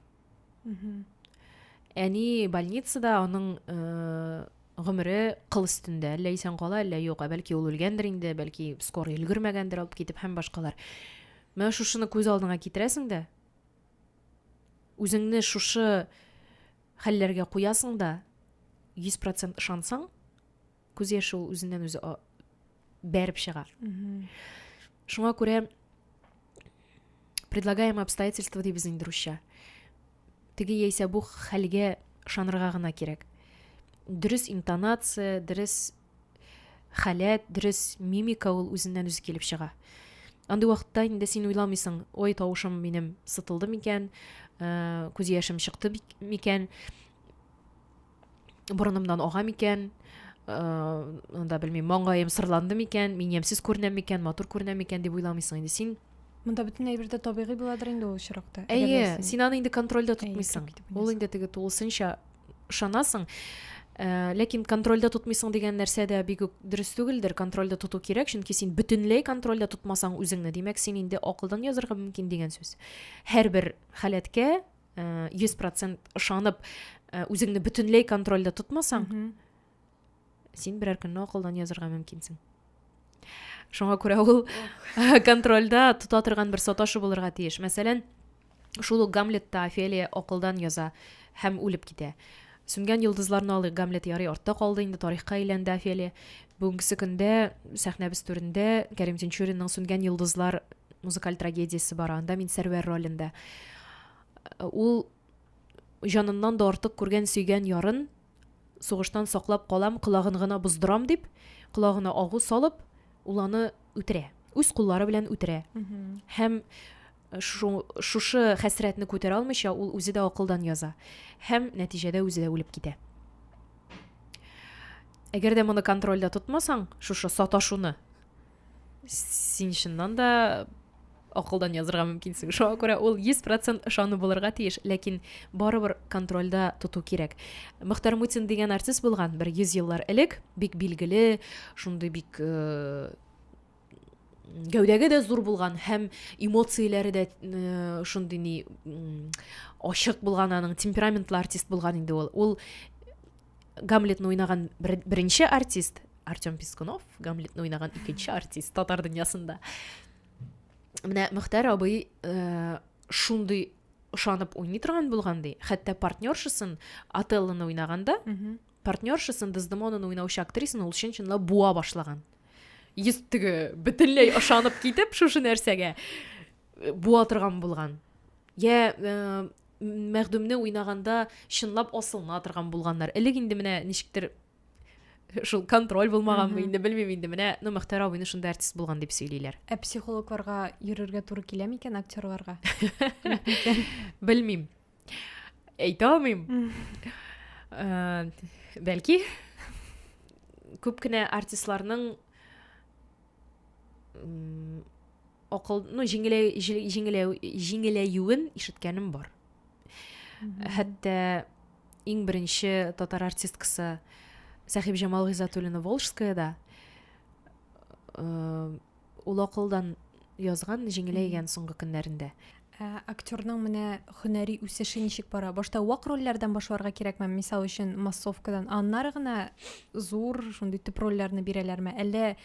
әни больницада аның э, гомере кыл өстендә әллә исән кала әллә юк ә бәлки ул үлгәндер инде бәлки скорый өлгермәгәндер алып китеп һәм башкалар менә шушыны күз алдыңа китерәсең дә үзеңне шушы хәлләргә куясың да, 100% ышансаң, күз яше ул үзеннән үзе бәреп чыга. Шуңа күрә предлагаемое обстоятельство дибез инде русча. Теге яисә бу хәлгә ышанырга гына кирәк. Дөрес интонация, дөрес халәт, дөрес мимика ул үзеннән-үзе килеп чыга. Андый вакытта инде син уйламыйсың, ой, тавышым минем сытылды микән, э, күз яшем чыкты микән, борынымнан ага микән, анда э, белмим маңгаем сырланды микән мин ямьсез күренәм микән матур күренәм микән дип уйламыйсың инде син монда бөтен әйбер дә табигый буладыр инде ул очракта әйе син аны инде контрольдә тотмыйсың ул инде теге тулысынча ышанасың, э, ләкин контрольдә тотмыйсың дигән нәрсә дә бик үк дөрес түгелдер. Контрольдә тоту кирәк, чөнки син бөтенләй контрольдә тотмасаң үзеңне, димәк, син инде акылдан язырга мөмкин дигән сүз. Һәрбер халәткә 100% э, ышанып, э, үзеңне бөтенләй контрольдә тотмасаң, син берәр көнне акылдан язырга мөмкинсең шуңа күрә ул контрольда тота торган бер саташы булырга тиеш мәсәлән шул ук гамлетта офелия акылдан яза һәм үлеп китә сүнгән йолдызларны алыйк гамлет ярый артта калды инде тарихка әйләнде офелия бүгенге көндә сәхнәбез түрендә кәрим тинчуринның сүнгән йолдызлар музыкаль трагедиясе бар анда мин сәрвәр ролендә ул җаныннан да артык күргән сөйгән ярын сугыштан саклап калам, колагын гына боздырам дип, колагына агу салып, ул аны үтерә. Үз куллары белән үтерә. Һәм шу, шушы хәсрәтне күтәрә алмыйча, ул үзе дә акылдан яза. Һәм нәтиҗәдә үзе дә үлеп китә. Әгәр дә моны контрольдә тотмасаң, шушы саташуны, син чыннан да акылдан язырга мөмкинсең шуңа күрә ул йөз процент ышану булырга тиеш ләкин барыбер контрольда тоту кирәк мөхтәр мутин дигән артист булган бер йөз еллар элек бик билгеле шундый бик э, гәүдәге дә зур булган һәм эмоцияләре дә э, шундый ни ачык булган аның темпераментлы артист булган инде ул ул гамлетны уйнаган беренче артист артем пискунов гамлетны уйнаган икенче артист татар дөньясында менә мөхтәр абый э, шундый ышанып уйный торган булган ди хәтта партнершасын отеллоны уйнаганда партнершасын дездемонаны уйнаучы актрисаны ул чын чынлап буа башлаган йөз теге бөтенләй ышанып китеп шушы нәрсәгә э, буа торган булган я э, Мәгъдүмне уйнаганда чынлап асылына торган булганнар. Элек инде менә ничектер шул контроль булмаганмы инде белмим инде менә ну мөхтәр абыйны шунда артист булган дип сөйлиләр ә психологларга йөрергә туры килә микән актерларга белмим әйтә алмыйм э, бәлки күп кенә артистларның акыл, ну, җиңеләю, җиңеләю, җиңеләюен ишеткәнем бар. Хәтта иң беренче татар артисткасы Сәхиб Җамал Гизатуллина Волжская да э, ул акылдан язган җиңеләйгән соңгы көннәрендә. Ә актерның менә һөнәри үсеше ничек бара? Башта вак рольләрдән башларга кирәкме? Мисал өчен, массовкадан. Аннары гына зур, шундый төп рольләрне бирәләрме? Әллә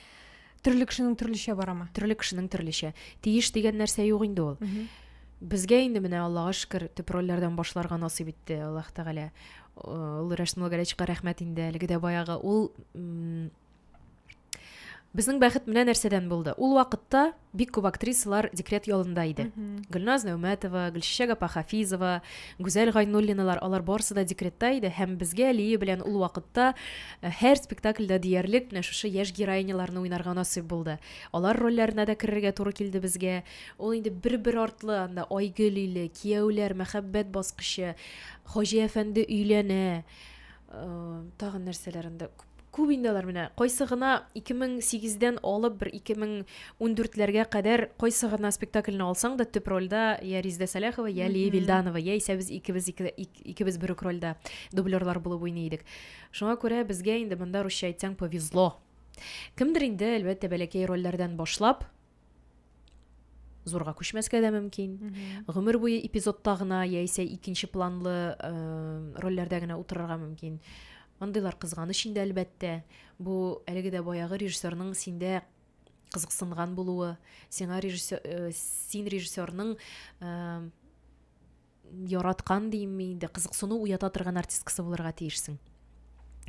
төрле кешенең төрлечә барамы? Төрле кешенең төрлечә. Тиеш дигән нәрсә юк инде ул. Безгә инде менә Аллага шөкер, төп рольләрдән башларга насыйп итте Аллаһ Тәгалә. Ул Рәшнул Гәрәчка рәхмәт инде, әлеге дә баягы. Ул Безнең бәхет менә нәрсәдән булды. Ул вакытта бик күп актрисалар декрет ялында иде. Гөлназ Нәүмәтова, Гөлчәчәк апа Хафизова, Гүзәл Гайнуллиналар, алар барысы да декретта иде һәм безгә Лия белән ул вакытта э, һәр спектакльдә диярлек менә шушы яшь героиняларны уйнарга насыйп булды. Алар рольләренә дә керергә туры килде безгә. Ул инде бер-бер артлы анда Айгөл иле, Кияүләр, Мәхәббәт баскычы, Хаҗи әфәнде өйләнә, Тагын нәрсәләр инде күп инде алар менә кайсы гына 2008 дән алып бер 2014 ләргә кадәр кайсы гына спектакльне алсаң да төп рольдә я Риздә Сәләхова, я Лия Вильданова, я исә без икебез икебез бер үк рольдә дублерлар булып уйный идек. Шуңа күрә безгә инде монда русча әйтсәң повезло. Кемдер инде әлбәттә бәләкәй рольләрдән башлап зурга күчмәскә дә мөмкин гомер буе эпизодта гына яисә икенче планлы э, рольләрдә генә утырырга мөмкин андыйлар кызганыч инде әлбәттә бу әлеге дә баягы режиссерның синдә кызыксынган булуы сиңа режиссер э, син режиссерның э, яраткан димме инде, кызыксыну уята торган артисткасы булырга тиешсең.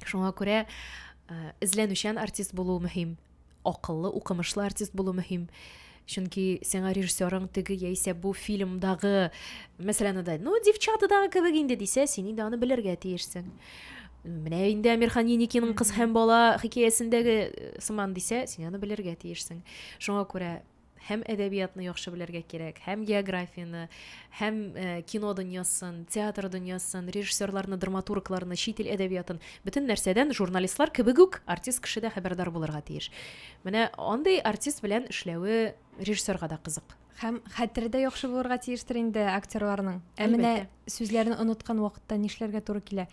Шуңа күрә э, эзләнүчән артист булу мөһим, акыллы, укымышлы артист булу мөһим. Чөнки сиңа режиссерың теге яисә бу фильмдагы, мәсәлән, да, ну, девчатадагы кебек инде дисә, син инде аны белергә тиешсең. Менә инде Амирхан Еникинең кыз һәм бала хикәясендәге э, сыман дисә, син аны белергә тиешсең. Шуңа күрә һәм әдәбиятны яхшы белергә кирәк, һәм географияне, һәм э, кино дөньясын, театр дөньясын, режиссерларны, драматургларны, чит ил әдәбиятын, бөтен нәрсәдән журналистлар кебек үк артист кеше дә хәбәрдар булырга тиеш. Менә андый артист белән эшләве режиссерга да кызык. Һәм хәтере дә яхшы булырга тиештер инде актерларның. Ә менә сүзләрне оныткан вакытта нишләргә туры килә?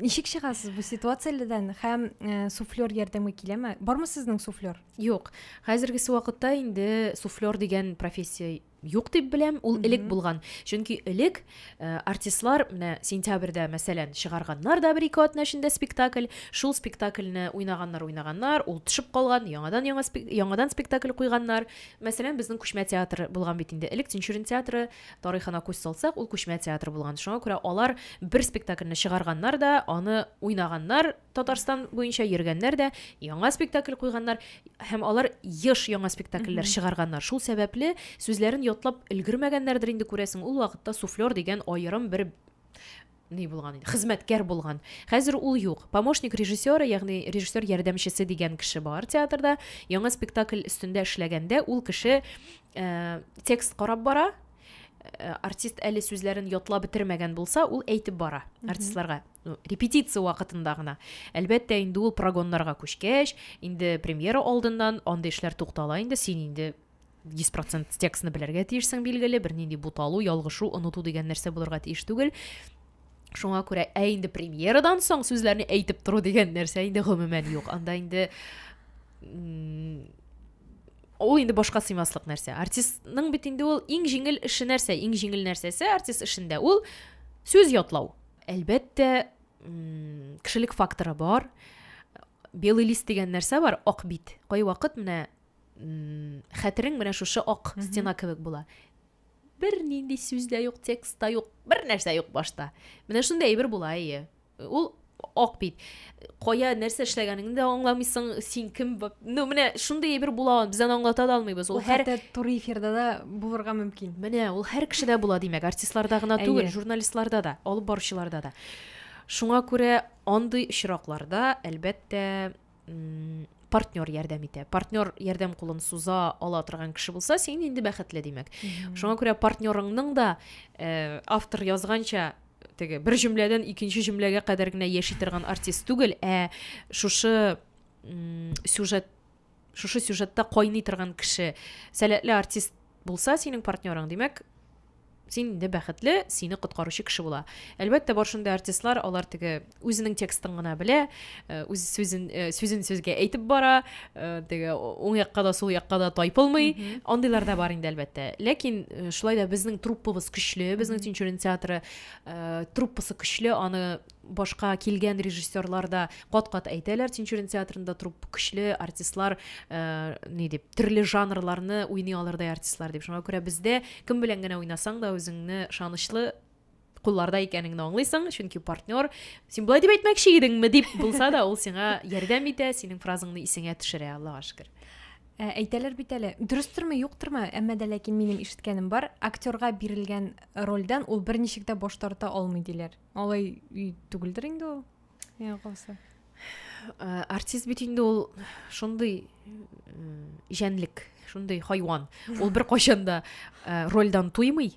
Ничек чыгасыз бу ситуациядән һәм э, суфлер ярдәмгә киләме? Бармы сезнең суфлер? Юк, хәзергесе вакытта инде суфлер дигән профессия юк дип беләм, ул элек булган. Чөнки элек э, артистлар менә сентябрьдә, мәсәлән, чыгарганнар да бер-ике атна эчендә спектакль, шул спектакльне уйнаганнар, уйнаганнар, ул төшеп калган, яңадан яңа спек- яңадан спектакль куйганнар. Мәсәлән, безнең күчмә театр булган бит инде. Элек Тинчурин театры тарихына күз салсак, ул күчмә театр булган. Шуңа күрә алар бер спектакльне чыгарганнар да, аны уйнаганнар, Татарстан буенча йөргәннәр дә яңа спектакль куйганнар һәм алар еш яңа спектакльләр чыгарганнар. Шул сәбәпле сүзләрен ятлап өлгермәгәннәрдер инде күрәсең. Ул вакытта суфлер дигән аерым бер ни булган инде, хезмәткәр булган. Хәзер ул юк. Помощник режиссера, ягъни режиссер ярдәмчесе дигән кеше бар театрда. Яңа спектакль өстендә эшләгәндә ул кеше э, текст карап бара. Э, артист әле сүзләрен ятлап бетермәгән булса, ул әйтеп бара артистларга. Ну, репетиция вакытында гына. Әлбәттә, инде ул прогоннарга күчкәч, инде премьера алдыннан андый эшләр туктала инде, син инде 100% текстны белергә тиешсең билгеле, бернинди буталу, ялгышу, оныту дигән нәрсә булырга тиеш түгел. Шуңа күрә ә инде премьерадан соң сүзләрне әйтеп тору дигән нәрсә инде гомумән юк. Анда инде ул инде башка сыймаслык нәрсә. Артистның бит инде ул иң җиңел эше нәрсә? Иң җиңел нәрсәсе артист эшендә ул сүз ятлау. Әлбәттә, кешелек факторы бар. Белый лист дигән нәрсә бар, ак бит. Кайвакыт менә хәтерең менә шушы ак стена кебек була. Бер нинди сүз дә юк, текст та юк, бер нәрсә юк башта. Менә шундый әйбер була, әйе. Ул ак бит. кая нәрсә эшләгәнеңне дә аңламыйсың син кем ну менә шундый әйбер була ул без аны аңлата да алмыйбыз ул һәр туры эфирда да булырга мөмкин менә ул һәр кешедә була димәк артистларда гына түгел журналистларда да алып баручыларда да шуңа күрә андый очракларда әлбәттә партнер ярдәм итә партнер ярдәм кулын суза ала торган кеше булса син инде бәхетле димәк шуңа күрә партнерыңның да э, автор язганча теге бер җөмләдән икенче җөмләгә кадәр генә яши торган артист түгел, ә шушы сюжет шушы сюжетта кайный торган кеше. Сәләтле артист булса синең партнерың, димәк, син инде бәхетле, сине коткаручы кеше була. Әлбәттә, бар шундый артистлар, алар теге үзенең текстын гына белә үз сүзен сүзен сүзгә әйтеп бара теге уң якка да сул якка да тайпылмый андыйлар да бар инде әлбәттә ләкин шулай да безнең труппабыз көчле безнең тинчурин театры труппасы көчле аны башка килгән режиссерлар да кат кат әйтәләр тинчурин театрында труппа көчле артистлар ни дип төрле жанрларны уйный алырдай артистлар дип шуңа күрә бездә кем белән генә уйнасаң да үзеңне ышанычлы кулларда икәнеңне аңлыйсың чөнки партнер син болай дип әйтмәкче идеңме дип булса да ул сиңа ярдәм итә синең фразаңны исеңә төшерә аллага шөкер ә, әйтәләр бит әле дөрестерме юктырмы әмма дә ләкин минем ишеткәнем бар актерга бирелгән рольдән ул берничек тә баш тарта алмый диләр алай түгелдер инде ул миңа калса ә, артист бит инде ул шундый җәнлек шундый хайван ул бер кайчан да ә, рольдан туймый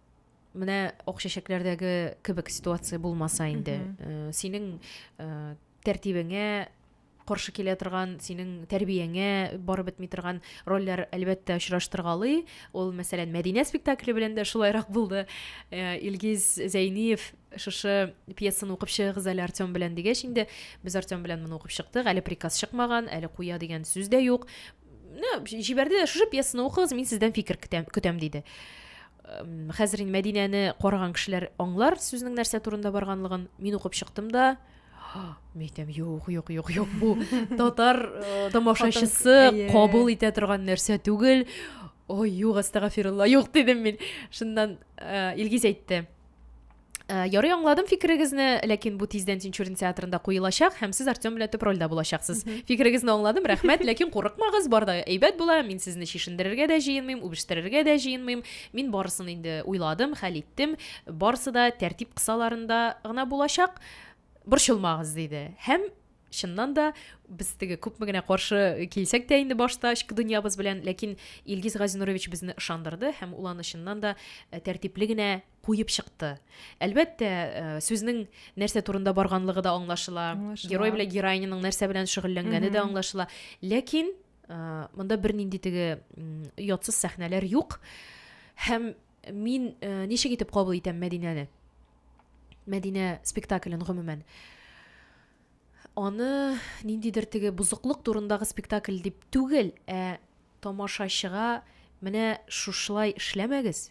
менә ак чәчәкләрдәге кебек ситуация булмаса инде э, синең э, тәртибеңә каршы килә торган синең тәрбияңә барып бетми торган рольләр әлбәттә очраштыргалый ул мәсәлән мәдинә спектакле белән дә шулайрак булды э, илгиз зәйниев шушы пьесаны укып чыгыгыз әле артем белән дигәч инде без артем белән моны укып чыктык әле приказ чыкмаган әле куя дигән сүз дә юк җибәрде дә шушы пьесаны укыгыз мин сездән фикер көтәм, көтәм диде хәзер инде мәдинәне караган кешеләр аңлар сүзнең нәрсә турында барганлыгын мин укып чыктым да мен әйтәм юк юк юк юк бу татар э, тамашачысы кабул итә торган нәрсә түгел ой юк астагафирулла юк дидем мин шуннан э, илгиз әйтте Ә, ярый аңладым фикерегезне, ләкин бу тиздән Тинчурин театрында куелачак һәм сез Артем белән төп рольдә булачаксыз. Фикерегезне аңладым, рәхмәт, ләкин курыкмагыз, бар да әйбәт була, мин сезне чишендерергә дә җыенмыйм, үбештерергә дә җыенмыйм. Мин барысын инде уйладым, хәл иттем, барысы да тәртип кысаларында гына булачак. Борчылмагыз, диде. Һәм чыннан да без теге күпме генә каршы килсәк тә инде башта эчке дөньябыз белән, ләкин Илгиз Газинурович безне ышандырды һәм ул аны чыннан да э, тәртипле генә куеп чыкты. Әлбәттә, э, сүзнең нәрсә турында барганлыгы да аңлашыла, аңлашыла. герой белән героиняның нәрсә белән шөгыльләнгәне дә аңлашыла. Ләкин э, монда бернинди теге оятсыз сәхнәләр юк. Һәм мин э, ничек итеп кабул итәм Мәдинәне? Мәдинә спектаклен гомумән аны ниндидер теге бузыклык турындагы спектакль дип түгел, ә тамашачыга менә шушылай эшләмәгез,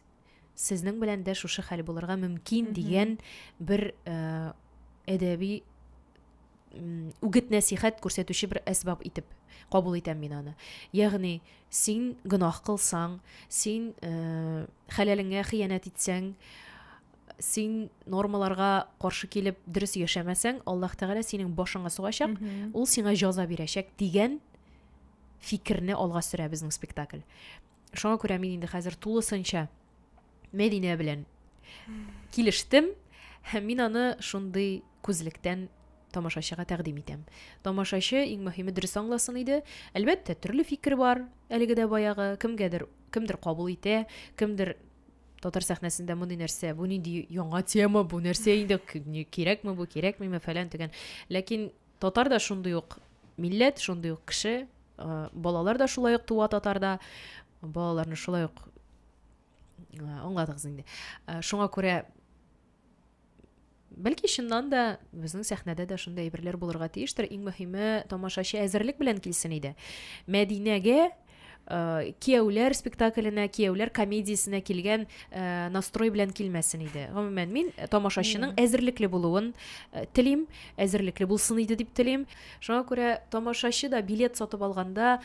сезнең белән дә шушы хәл булырга мөмкин дигән бер әдәби үгет нәсихәт күрсәтүче бер әсбаб итеп кабул итәм мин аны ягъни син гөнаһ кылсаң син ә, хәләлеңә хыянәт итсәң син нормаларга каршы килеп дөрес яшәмәсәң аллаһ тәгалә синең башыңа сугачак ул сиңа җаза бирәчәк дигән фикерне алга сөрә безнең спектакль Шуңа күрә мин инде хәзер тулысынча Мәдинә белән килештем һәм мин аны шундый күзлектән тамашачыга тәкъдим итәм. Тамашачы иң мөһиме дөрес аңласын иде. Әлбәттә, төрле фикер бар. Әлеге дә баягы кемгәдер, кемдер кабул итә, кемдер татар сәхнәсендә мондый нәрсә, бу нинди яңа тема, бу нәрсә инде кирәкме бу, кирәкмиме фәлән төгән. Ләкин Татар да шундый ук милләт, шундый ук кеше, балалар да шулай ук туа татарда, балаларны шулай ук аңладыгыз инде. Шуңа күрә бәлки чыннан да безнең сәхнәдә дә шундый әйберләр булырга тиештер. Иң мөһиме тамашачы әзерлек белән килсен иде. Мәдинәгә Э, кияүләр спектакленә кияүләр комедиясенә килгән э, настрой белән килмәсен иде гомумән мин э, тамашачының әзерлекле булуын телим әзерлекле булсын иде дип телим шуңа күрә тамашачы да билет сатып алганда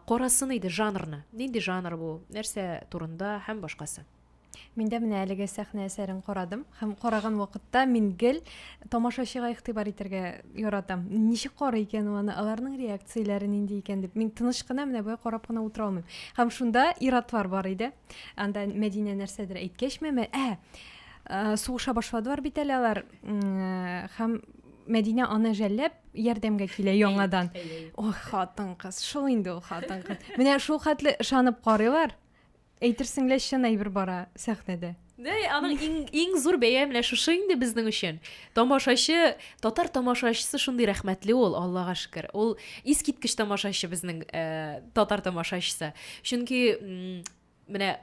карасын иде жанрны нинди жанр бу нәрсә турында һәм башкасы Мин дә менә әлеге сәхнә әсәрен карадым һәм караган вакытта мин гел тамашачыга игътибар итәргә яратам. Ничек карый икән ул аны, аларның реакцияләре нинди икән дип. Мин тыныч кына менә болай карап кына утыра алмыйм. Һәм шунда ир-атлар бар иде. Анда Мәдинә нәрсәдер әйткәчме, мә, ә, ә, сугыша башладылар бит әле алар. Һәм Мәдинә аны жәлләп ярдәмгә килә яңадан. Ох, хатын-кыз, шул инде ул хатын-кыз. Менә шул хәтле ышанып карыйлар. Әйтерсең лә чын әйбер бара сәхнәдә. Дә, аның иң, иң зур бәя менә шушы инде безнең өчен. Тамашачы, татар тамашачысы шундый рәхмәтле ул, Аллага шөкер. Ул искиткеч тамашачы безнең э, татар тамашачысы. Чөнки м, менә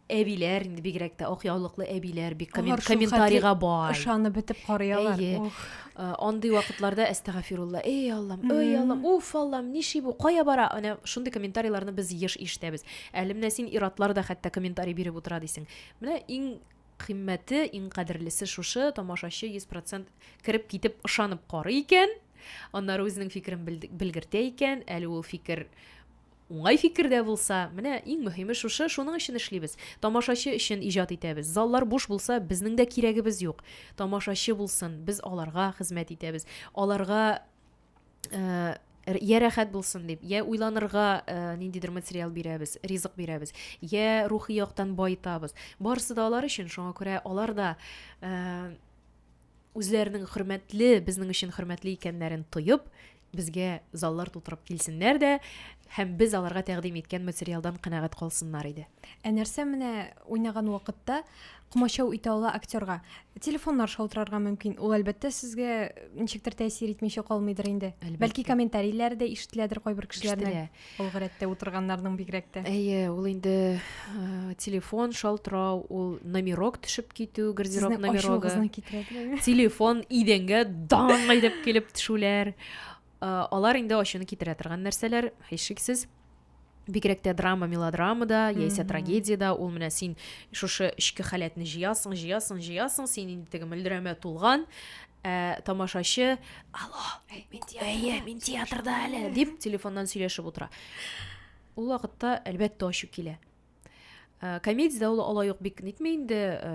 әбиләр инде бигрәк тә ак яулыклы әбиләр бик коммен, Алар шул комментарийга хәтле бай. Ышанып бетеп карыялар. Әйе. Ох. Э, андый вакытларда әстәгафирулла, эй Аллам, ой Аллам, уф Аллам, ниши бу, кая бара? Әнә шундый комментарийларны без еш ишетәбез. Әле менә син ир-атлар да хәтта комментарий биреп утыра дисең. Менә иң кыйммәте, иң кадерлесе шушы, тамашачы 100 процент кереп китеп ышанып карый икән, аннары үзенең фикерен белгертә икән, әле ул фикер уңай фикер дә булса, менә иң мөһиме шушы, шуның өчен эшлибез. Тамашачы өчен иҗат итәбез. Заллар буш булса, безнең дә кирәгебез юк. Тамашачы булсын, без аларга хезмәт итәбез. Аларга ә, я рәхәт булсын дип я уйланырга ә, ниндидер материал бирәбез ризык бирәбез я рухи яктан баетабыз барысы да алар өчен шуңа күрә алар да ә, үзләренең хөрмәтле безнең өчен хөрмәтле икәннәрен тоеп безгә заллар тутырып килсеннәр дә һәм без аларга тәкъдим иткән материалдан канәгать калсыннар иде ә нәрсә менә уйнаган вакытта комачау итә ала актерга. Телефоннар шалтырарга мөмкин. Ул әлбәттә сезгә ничектер тәэсир итмичә калмыйдыр инде. Әлбәттә. Бәлки комментарийләр дә ишетеләдер кайбер кешеләрнең. Ул гәрәттә утырганнарның бигрәк тә. Әйе, ул инде э, телефон шалтырау, ул номерок төшеп китү, гардероб номерогы. Телефон идәнгә даң әйдәп килеп төшүләр. Э, алар инде ачуны китерә торган нәрсәләр, һичшиксез. Һич бигрәк тә драма мелодрамада яисә трагедиядә ул менә син шушы эчке халәтне җыясың җыясың җыясың син инде теге мөлдерәмә тулган ә, тамашачы алло әйе мин театрда әле дип телефоннан сөйләшеп утыра ул вакытта әлбәттә ачу килә ә, комедиядә ул алай ук бик нитми инде ә,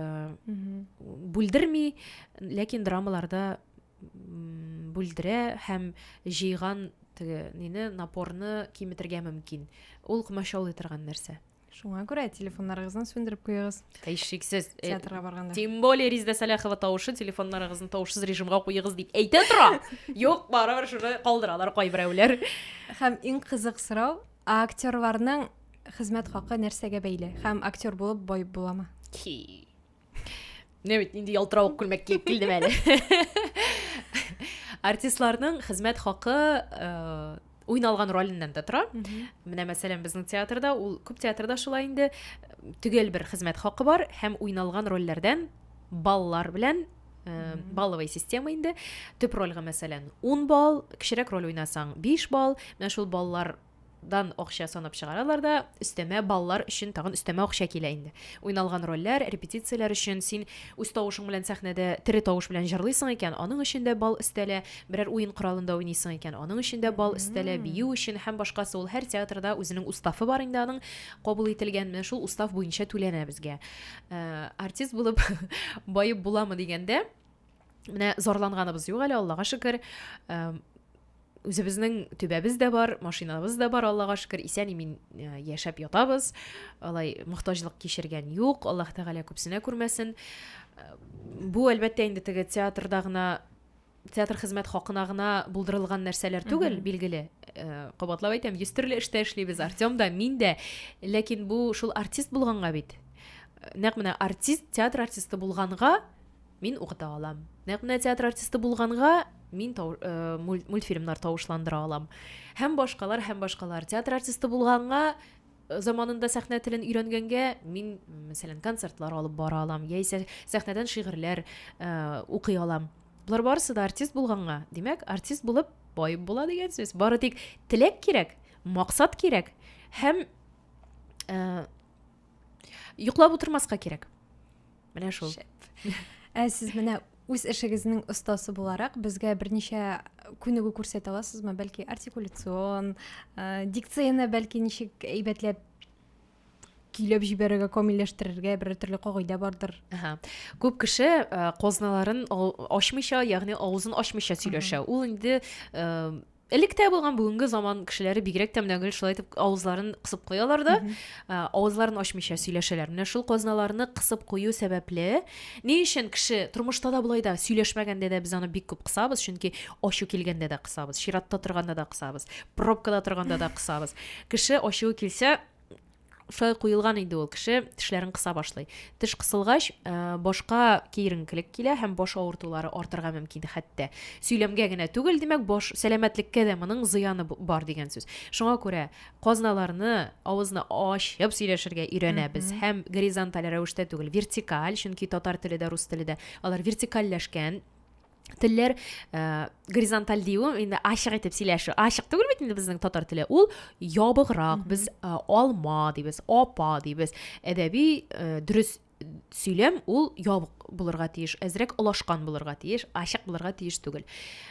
бүлдерми ләкин драмаларда бүлдерә һәм җыйган теге нине напорны киметергә мөмкин ул комачаулый торган нәрсә шуңа күрә телефоннарыгызны сүндереп куегыз һич шиксез э, театрга барганда тем более ризда сәләхова тавышы телефоннарыгызны тавышсыз режимга куегыз дип әйтә тора юк барыбер шуны калдыралар кайберәүләр һәм иң кызык сорау Ә актерларның хезмәт хакы нәрсәгә бәйле? Һәм актер булып бай буламы? Ки. Не бит инде ялтыравык күлмәк киеп килдем әле. Артистларның хезмәт хакы э, уйналган ролиннән дә тора. Менә мәсәлән безнең театрда, ул күп театрда шулай инде төгәл бер хезмәт хакы бар һәм уйналган рольләрдән баллар белән Э, балловый система инде төп рольга мәсәлән 10 балл кечерәк роль уйнасаң 5 балл менә шул баллардан акча санап чыгаралар да өстәмә баллар өчен тагын өстәмә акча килә инде уйналган рольләр репетицияләр өчен син үз тавышың белән сәхнәдә тере тавыш белән җырлыйсың икән аның өчен дә балл өстәлә берәр уен коралында уйныйсың икән аның өчен дә балл өстәлә бию өчен һәм башкасы ул һәр театрда үзенең уставы бар инде аның кабул ителгән менә шул устав буенча түләнә безгә Э, артист булып баеп буламы дигәндә менә зарланганыбыз юк әле аллага шөкер э, үзебезнең төбәбез дә бар машинабыз да бар аллага шөкер исән имин э, яшәп ятабыз алай мохтаҗлык кичергән юк аллаһ тәгалә күпсенә күрмәсен бу әлбәттә инде теге театрда гына театр хезмәт хакына гына булдырылган нәрсәләр түгел, билгеле. Э, кабатлап әйтәм, йөз төрле эштә эшлибез, Артем да, мин дә. Ләкин бу шул артист булганга бит. Э, нәкъ менә артист, театр артисты булганга мин укыта алам. Нәкъ менә театр артисты булганга мин тау, э, мультфильмнар тавышландыра алам. Һәм башкалар, һәм башкалар. Театр артисты булганга заманында сәхнә телен өйрәнгәнгә мин, мәсәлән, концертлар алып бара алам, яисә сәхнәдән шигырьләр э, укый алам. Болар барысы да артист булганга, димәк, артист булып бай була дигән сүз. Бары тик теләк кирәк, максат кирәк һәм э, йоклап утырмаска кирәк. Менә шул. Ә сез менә үз эшегезнең остасы буларак безгә берничә күнегү күрсәтә аласызмы? Бәлки артикуляцион, э, дикцияне бәлки ничек әйбәтләп көйләп җибәрергә, камилләштерергә бер төрле кагыйдә бардыр. Ага. Күп кеше э, козналарын ачмыйча, ягъни авызын ачмыйча сөйләшә. Ул инде э, Электә булган бүгенге заман кешеләре бигрәк тә менә гел шулай итеп авызларын кысып куялар да, ә, авызларын ачмыйча сөйләшәләр. Менә шул казналарны кысып кую сәбәпле, ни өчен кеше тормышта да болай да сөйләшмәгәндә дә без аны бик күп кысабыз, чөнки ачу килгәндә дә кысабыз, чиратта торганда да кысабыз, пробкада торганда да кысабыз. Кеше ачуы килсә, Шулай куелган инде ул кеше тешләрен кыса башлый. Теш кысылгач, э, башка киеренкелек килә һәм баш авыртулары артырга мөмкин хәтта. Сөйләмгә генә түгел, димәк, баш сәламәтлеккә дә моның зыяны бар дигән сүз. Шуңа күрә казналарны, авызны ачып сөйләшергә өйрәнәбез һәм горизонталь рәвештә түгел, вертикаль, чөнки татар теле дә, рус теле дә алар вертикальләшкән телләр ә, горизонталь дию инде ачык итеп сөйләшү ачык түгел бит инде безнең татар теле ул ябыграк без ә, алма дибез апа дибез әдәби ә, дөрес сөйләм ул ябык булырга тиеш әзрәк олашкан булырга тиеш ачык булырга тиеш түгел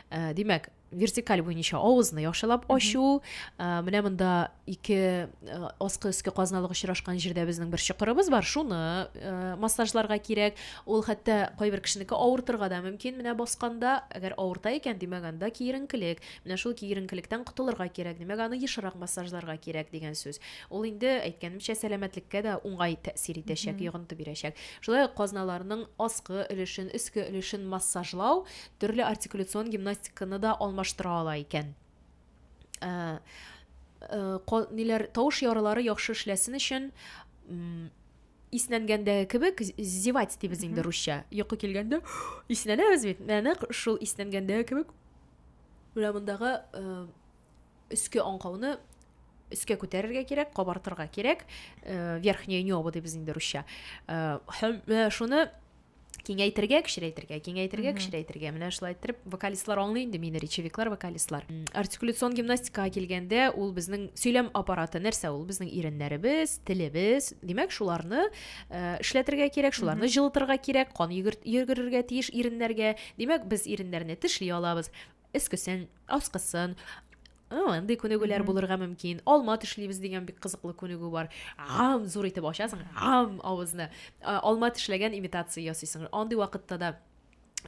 ә, димәк вертикаль буенча авызны яхшылап ачу ә, менә монда ике ә, аскы өске казналык очрашкан җирдә безнең бер чокырыбыз бар шуны ә, массажларга кирәк ул хәтта кайбер кешенеке авыртырга да мөмкин менә басканда әгәр авырта икән димәк анда киеренкелек менә шул киеренкелектән котылырга кирәк димәк аны ешрак массажларга кирәк дигән сүз ул инде әйткәнемчә сәламәтлеккә дә уңай тәэсир итәчәк йогынты бирәчәк шулай ук казналарның аскы өлешен өске өлешен массажлау төрле артикуляцион гимнастиканы да алмаштыра ала икән. Ә, ә, ниләр тавыш ярылары яхшы эшләсен өчен иснәнгәндәге кебек зевать дибез инде русча йокы килгәндә иснәнәбез бит нәнәк шул иснәнгәндәге кебек менә мондагы э, өске аңкауны өскә күтәрергә кирәк кабартырга кирәк э, верхнее небо дибез инде русча э, һәм шуны киңәйтергә кечерәйтергә киңәйтергә кечерәйтергә менә шулай иттереп вокалистлар аңлый инде мине речевиклар вокалистлар артикуляцион гимнастикага килгәндә ул безнең сөйләм аппараты нәрсә ул безнең иреннәребез телебез димәк шуларны э, эшләтергә кирәк шуларны җылытырга кирәк кан йөгерергә тиеш иреннәргә димәк без иреннәрне тешли алабыз өскесен аскысын андый күнегүләр булырга мөмкин алма тешлибез дигән бик кызыклы күнегү бар ам зур итеп ачасың ам авызны алма тешләгән имитация ясыйсың андый вакытта да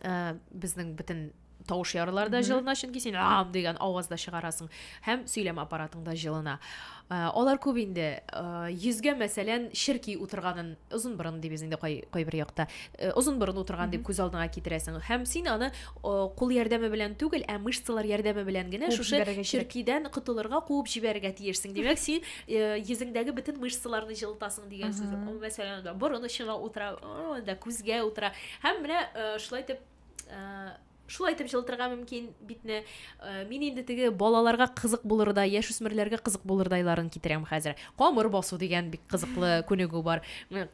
э, безнең бөтен тавыш ярылар да җылына чөнки син ам дигән аваз да чыгарасың һәм сөйләм аппаратың да җылына Ә, алар күп инде. Ә, йөзгә, мәсәлән, черки утырганын, озын борын дибез инде кай, кайбер якта. Ә, озын борын утырган дип күз алдыңа китерәсең. Һәм син аны ә, кул ярдәме белән түгел, ә мышцалар ярдәме белән генә шушы черкидән котылырга, куып җибәрергә тиешсең. Димәк, син ә, йөзеңдәге бөтен мышцаларны җылытасың дигән сүз. Мәсәлән, борын очына утыра, анда күзгә утыра. Һәм менә ә, шулай итеп, ә, Шулай итеп җылытырга мөмкин битне. Э, мин инде теге балаларга кызык булырдай, яшүсмерләргә кызык булырдайларын китерәм хәзер. Камыр басу дигән бик кызыклы күнегү бар.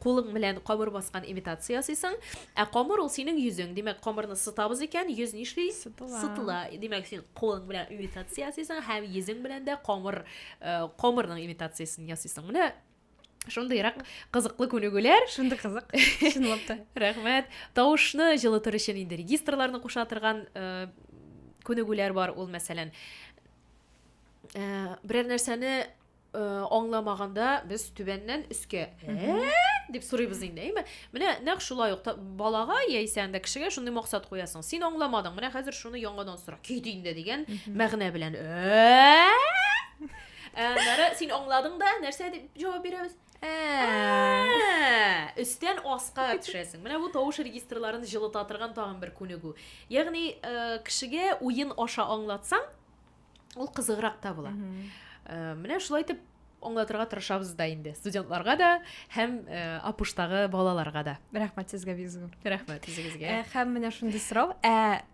Кулың белән камыр баскан имитация ясыйсың. Ә камыр ул синең йөзең. Димәк, камырны сытабыз икән, йөз нишли? Сытыла. Димәк, син кулың белән имитация ясыйсың һәм йөзең белән дә камыр э, камырның имитациясен ясыйсың. Менә шундыйрак кызыклы күнегүләр шундый кызык чынлап та рәхмәт тавышны җылытыр өчен инде регистрларны куша торган э, күнегүләр бар ул мәсәлән э, берәр нәрсәне э, аңламаганда без түбәннән өскә дип сорыйбыз инде әйме менә нәкъ шулай ук балага яисә анда кешегә шундый максат куясың син аңламадың менә хәзер шуны яңадан сора кит инде дигән мәгънә белән Аннары син аңладың да, нәрсә дип җавап бирәбез? өстән аска төшәсең менә бу тавыш регистрларын җылыта торган тагын бер күнегү ягъни э, кешегә уен аша аңлатсаң ул кызыграк та була э, менә шулай итеп аңлатырга тырышабыз да инде студентларга да һәм э, апуштагы балаларга да рәхмәт сезгә бик зур рәхмәт үзегезгә һәм менә шундый сорау ә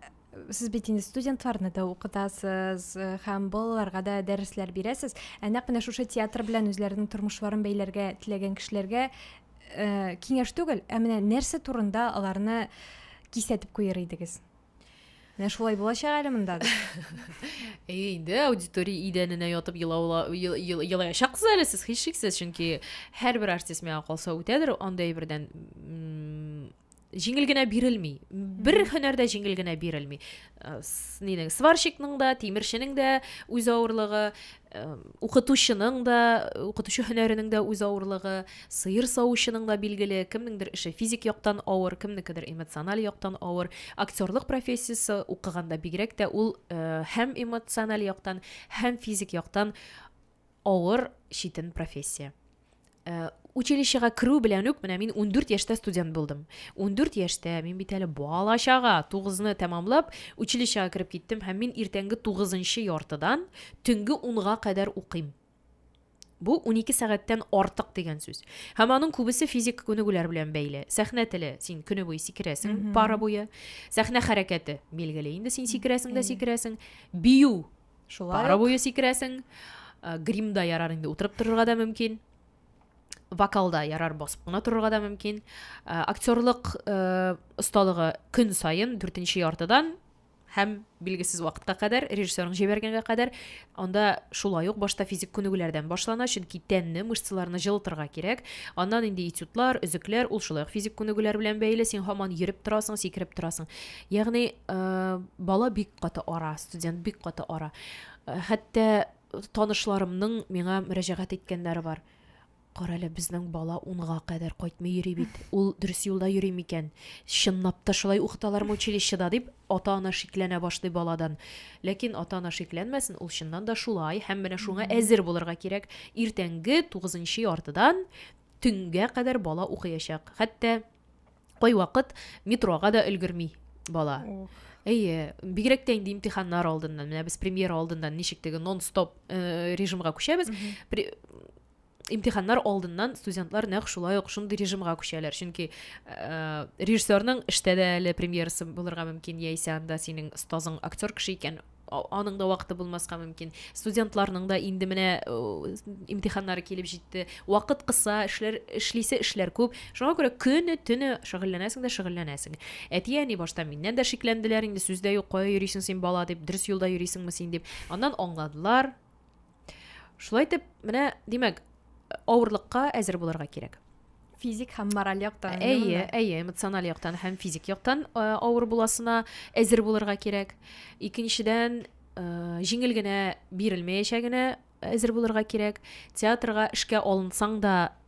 сез бит инде студентларны да укытасыз э, һәм балаларга да дәресләр бирәсез ә нәкъ менә шушы театр белән үзләренең тормышларын бәйләргә теләгән кешеләргә э, киңәш түгел ә менә нәрсә турында аларны кисәтеп куер идегез менә шулай булачак әле монда инде аудитория идәненә ятып елаячаксыз әле сез һичшиксез чөнки һәрбер артист миңа калса үтәдер андай бердән җиңел генә бирелми бер һөнәр дә җиңел генә бирелми э, нинең сварщикның да тимерченең дә үз авырлыгы э, укытучының да укытучы һөнәренең дә үз авырлыгы сыер савучының да билгеле кемнеңдер эше физик яктан авыр кемнекедер эмоциональ яктан авыр актерлык профессиясе укыганда бигрәк тә ул э, һәм эмоциональ яктан һәм физик яктан авыр читен профессия Э, училищега керү белән үк менә мин 14 яшьтә студент булдым 14 яшьтә мин бит әле бала чага тугызны тәмамлап училищега кереп киттем һәм мин иртәнге тугызынчы яртыдан төнге унга кадәр укыйм бу 12 сәгатьтән артык дигән сүз һәм аның күбесе физик күнегүләр белән бәйле сәхнә теле син көне буе сикерәсең пара буе сәхнә хәрәкәте билгеле инде син сикерәсең дә сикерәсең бию Шулай Пара буе сикерәсең. Гримда ярар инде утырып торырга да мөмкин. Вокалда ярар басып кына торырга да мөмкин. Актерлык осталыгы көн саен 4 нче яртыдан һәм билгесез вакытка кадәр, режиссерның җибәргәнгә кадәр, анда шулай ук башта физик күнегүләрдән башлана, чөнки тәнне, мышцаларны җылытырга кирәк. Аннан инде этюдлар, өзекләр, ул шулай ук физик күнегүләр белән бәйле, син һаман йөреп торасың, сикереп торасың. Ягъни, бала бик каты ара, студент бик каты ара. Хәтта танышларымның миңа мөрәҗәгать иткәннәре бар. Кара әле, безнең бала унга кадәр кайтмый йөри бит. Ул дөрес юлда йөри микән? Чынлап та шулай укыталармы училищеда, дип, ата-ана шикләнә башлый баладан. Ләкин ата-ана шикләнмәсен, ул чыннан да шулай һәм менә шуңа әзер булырга кирәк. Иртәнге тугызынчы яртыдан төнгә кадәр бала укыячак. Хәтта кайвакыт метрога да өлгерми бала әйе бигрәк тә инде имтиханнар алдыннан менә без премьера алдыннан ничек теге нон стоп э, режимга күчәбез имтиханнар алдыннан студентлар нәкъ шулай ук шундый режимга күчәләр чөнки ә, режиссерның эштә дә әле премьерасы булырга мөмкин яисә анда синең остазың актер кеше икән аның да вакыты булмаска мөмкин. Студентларның да инде менә имтиханнары килеп җитте. Вакыт кыса, эшләр эшлисе эшләр күп. Шуңа күрә көне төне шөгыльләнәсең дә шөгыльләнәсең. Әти-әни башта миннән дә шикләнделәр инде, сүз дә юк, кая йөрисең син бала дип, дөрес юлда йөрисеңме син дип. Аннан аңладылар. Шулай итеп, менә, димәк, авырлыкка әзер булырга кирәк. Физик һәм мораль яктан. Әйе, әйе, эмоциональ яктан һәм физик яктан э, авыр буласына әзер булырга кирәк. Икенчедән, э, җиңел генә бирелмәячәгенә әзер булырга кирәк. Театрга эшкә алынсаң да,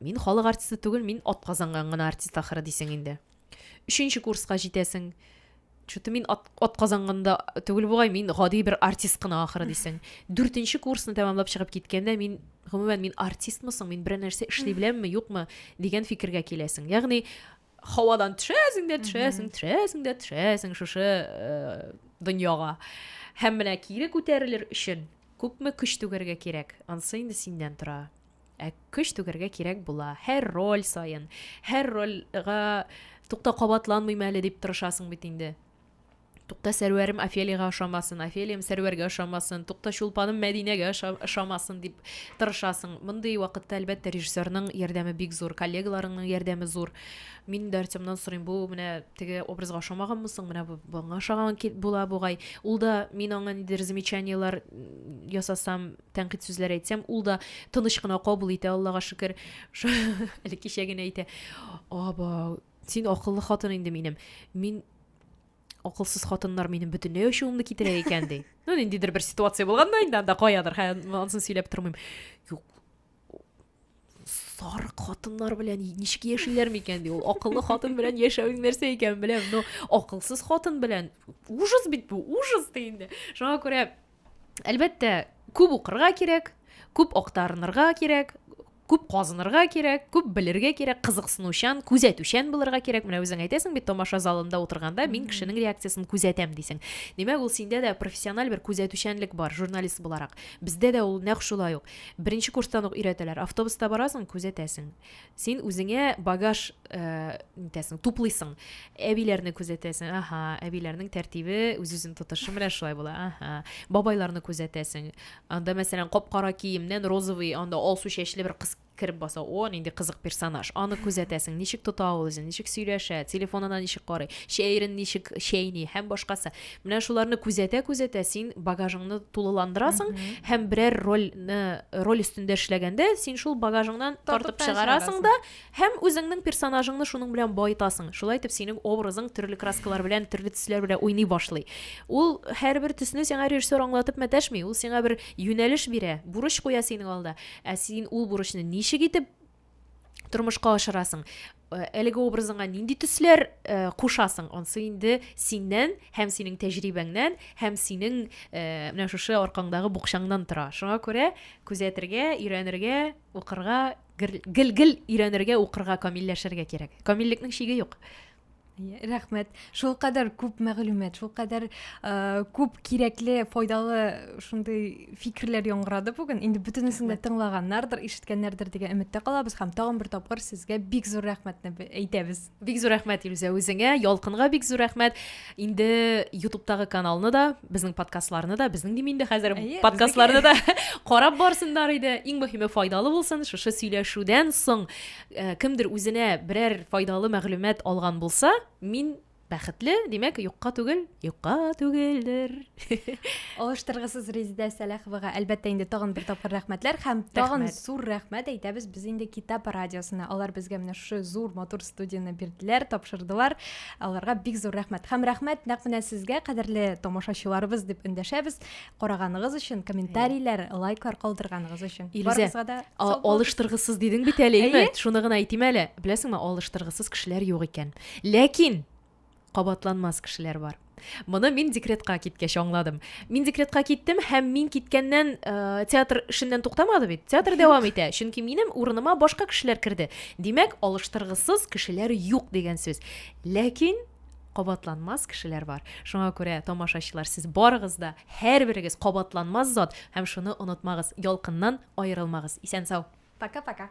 Мин халык артисты түгел, мин атказанган гына артист ахыры дисең инде. Өченче курска җитәсең. Чуты мин ат, атказанганда түгел бугай, мин гади бер артист кына ахыры дисең. Дүртенче курсны тәмамлап чыгып киткәндә мин гомумән мин артистмы соң, мин берәр нәрсә эшли беләмме, юкмы дигән фикергә киләсең. Ягъни һавадан төшәсең дә төшәсең, төшәсең дә төшәсең шушы э, дөньяга. Һәм менә кире күтәрелер өчен күпме көч түгәргә кирәк, ансы инде синнән тора. Ә көч түгәргә кирәк була. Һәр роль саен, һәр рольга тукта кабатланмыйм әле дип тырышасың бит инде. Тукта сәрвәрем Офелиягә ошамасын, Офелиям сәрвәргә ошамасын, тукта чулпаным Мәдинәгә ошамасын дип тырышасың. Мондый вакытта, әлбәттә, режиссерның ярдәме бик зур, коллегаларыңның ярдәме зур. Мин дә Артемнан сорыйм, бу менә теге образга ошамаганмы соң, менә бу буңа ошаган була бугай. Ул да мин аңа нидер замечаниеләр ясасам, тәнкыйть сүзләр әйтсәм, ул да тыныч кына кабул итә, Аллага шөкер. Әле кичә генә әйтә, аба, син акыллы хатын инде минем. Мин акылсыз хатыннар минем бөтенләй ачуымны китерә икән ди. Ну, ниндидер бер ситуация булган да инде анда каядыр, хәзер ансын сөйләп тормыйм. Юк, сарык хатыннар белән ничек яшиләр микән ди ул акыллы хатын белән яшәвең нәрсә икәнен беләм но акылсыз хатын белән ужас бит бу ужас ди инде шуңа күрә әлбәттә күп укырга кирәк күп актарынырга кирәк күп казынырга кирәк күп белергә кирәк кызыксынучан күзәтүчән булырга кирәк менә үзең әйтәсең бит тамаша залында утырганда мин кешенең реакциясен күзәтәм дисең димәк ул синдә дә профессиональ бер күзәтүчәнлек бар журналист буларак бездә дә ул нәкъ шулай ук Беренче курстан ук өйрәтәләр. Автобуста барасың, күзәтәсең. Син үзеңә багаж э, нитәсең, туплыйсың. Әбиләрне күзәтәсең. Аха, әбиләрнең тәртибе, үз-үзен тотышы менә шулай була. Аха. Бабайларны күзәтәсең. Анда, мәсәлән, кап-кара киемнән розовый, анда алсу чәчле бер кыз кереп баса. О, нинди кызык персонаж. Аны күзәтәсең. Ничек тота ул үзен, ничек сөйләшә, телефонына ничек карый, чәерен ничек чәйни һәм башкасы. Менә шуларны күзәтә-күзәтә син багажыңны тулыландырасың һәм берәр рольне роль өстендә эшләгәндә син шул багажыңнан тартып чыгарасың да һәм үзеңнең персонажыңны шуның белән баетасың. Шулай итеп синең образың төрле краскалар белән, төрле төсләр белән уйный башлый. Ул һәрбер төсне сиңа режиссер аңлатып мәтәшми, ул сиңа бер юнәлеш бирә, бурыч куя синең алда. Ә син ул бурычны ничек итеп тормышка ашырасың Э, әлеге образыңа нинди төсләр э, кушасың онсы инде синнән һәм синең тәҗрибәңнән һәм синең э, менә шушы аркаңдагы букчаңнан тора шуңа күрә күзәтергә өйрәнергә укырга гел гел өйрәнергә укырга камилләшергә кирәк камиллекнең чиге юк рәхмәт шул кадәр күп мәгълүмат шул кадәр э, күп кирәкле файдалы шундый фикерләр яңгырады бүген инде бөтенесен дә тыңлаганнардыр ишеткәннәрдер дигән өметтә калабыз һәм тагын бер тапкыр сезгә бик зур рәхмәтне әйтәбез бик зур рәхмәт илүзә үзеңә ялкынга бик зур рәхмәт инде ютубтагы каналны да безнең подкастларны да безнең дим инде хәзер подкастларны да карап барсыннар иде иң мөһиме файдалы булсын шушы сөйләшүдән соң Э, кемдер үзенә берәр файдалы мәгълүмат алган булса мин бәхетле димәк юкка түгел юкка түгелдер алыштыргысыз резидә сәләховага әлбәттә инде тагын бер тапкыр рәхмәтләр һәм тагын зур рәхмәт әйтәбез без инде китап радиосына алар безгә менә шушы зур матур студияне бирделәр тапшырдылар аларга бик зур рәхмәт һәм рәхмәт нәкъ менә сезгә кадерле тамашачыларыбыз дип эндәшәбез караганыгыз өчен комментарийләр лайклар калдырганыгыз өчен барыгызга да алыштыргысыз дидең бит әле әйе шуны гына әйтим әле беләсеңме алыштыргысыз кешеләр юк икән ләкин кабатланмас кешеләр бар моны мин декретка киткәч аңладым мин декретка киттем һәм мин киткәннән ә, театр эшеннән туктамады бит театр дәвам итә чөнки минем урыныма башка кешеләр керде димәк алыштыргысыз кешеләр юк дигән сүз ләкин кабатланмас кешеләр бар. Шуңа күрә, тамашачылар, сез барыгыз да, һәрберегез кабатланмас зат һәм шуны онытмагыз, Ялкыннан аерылмагыз. Исән-сау! Пока-пока!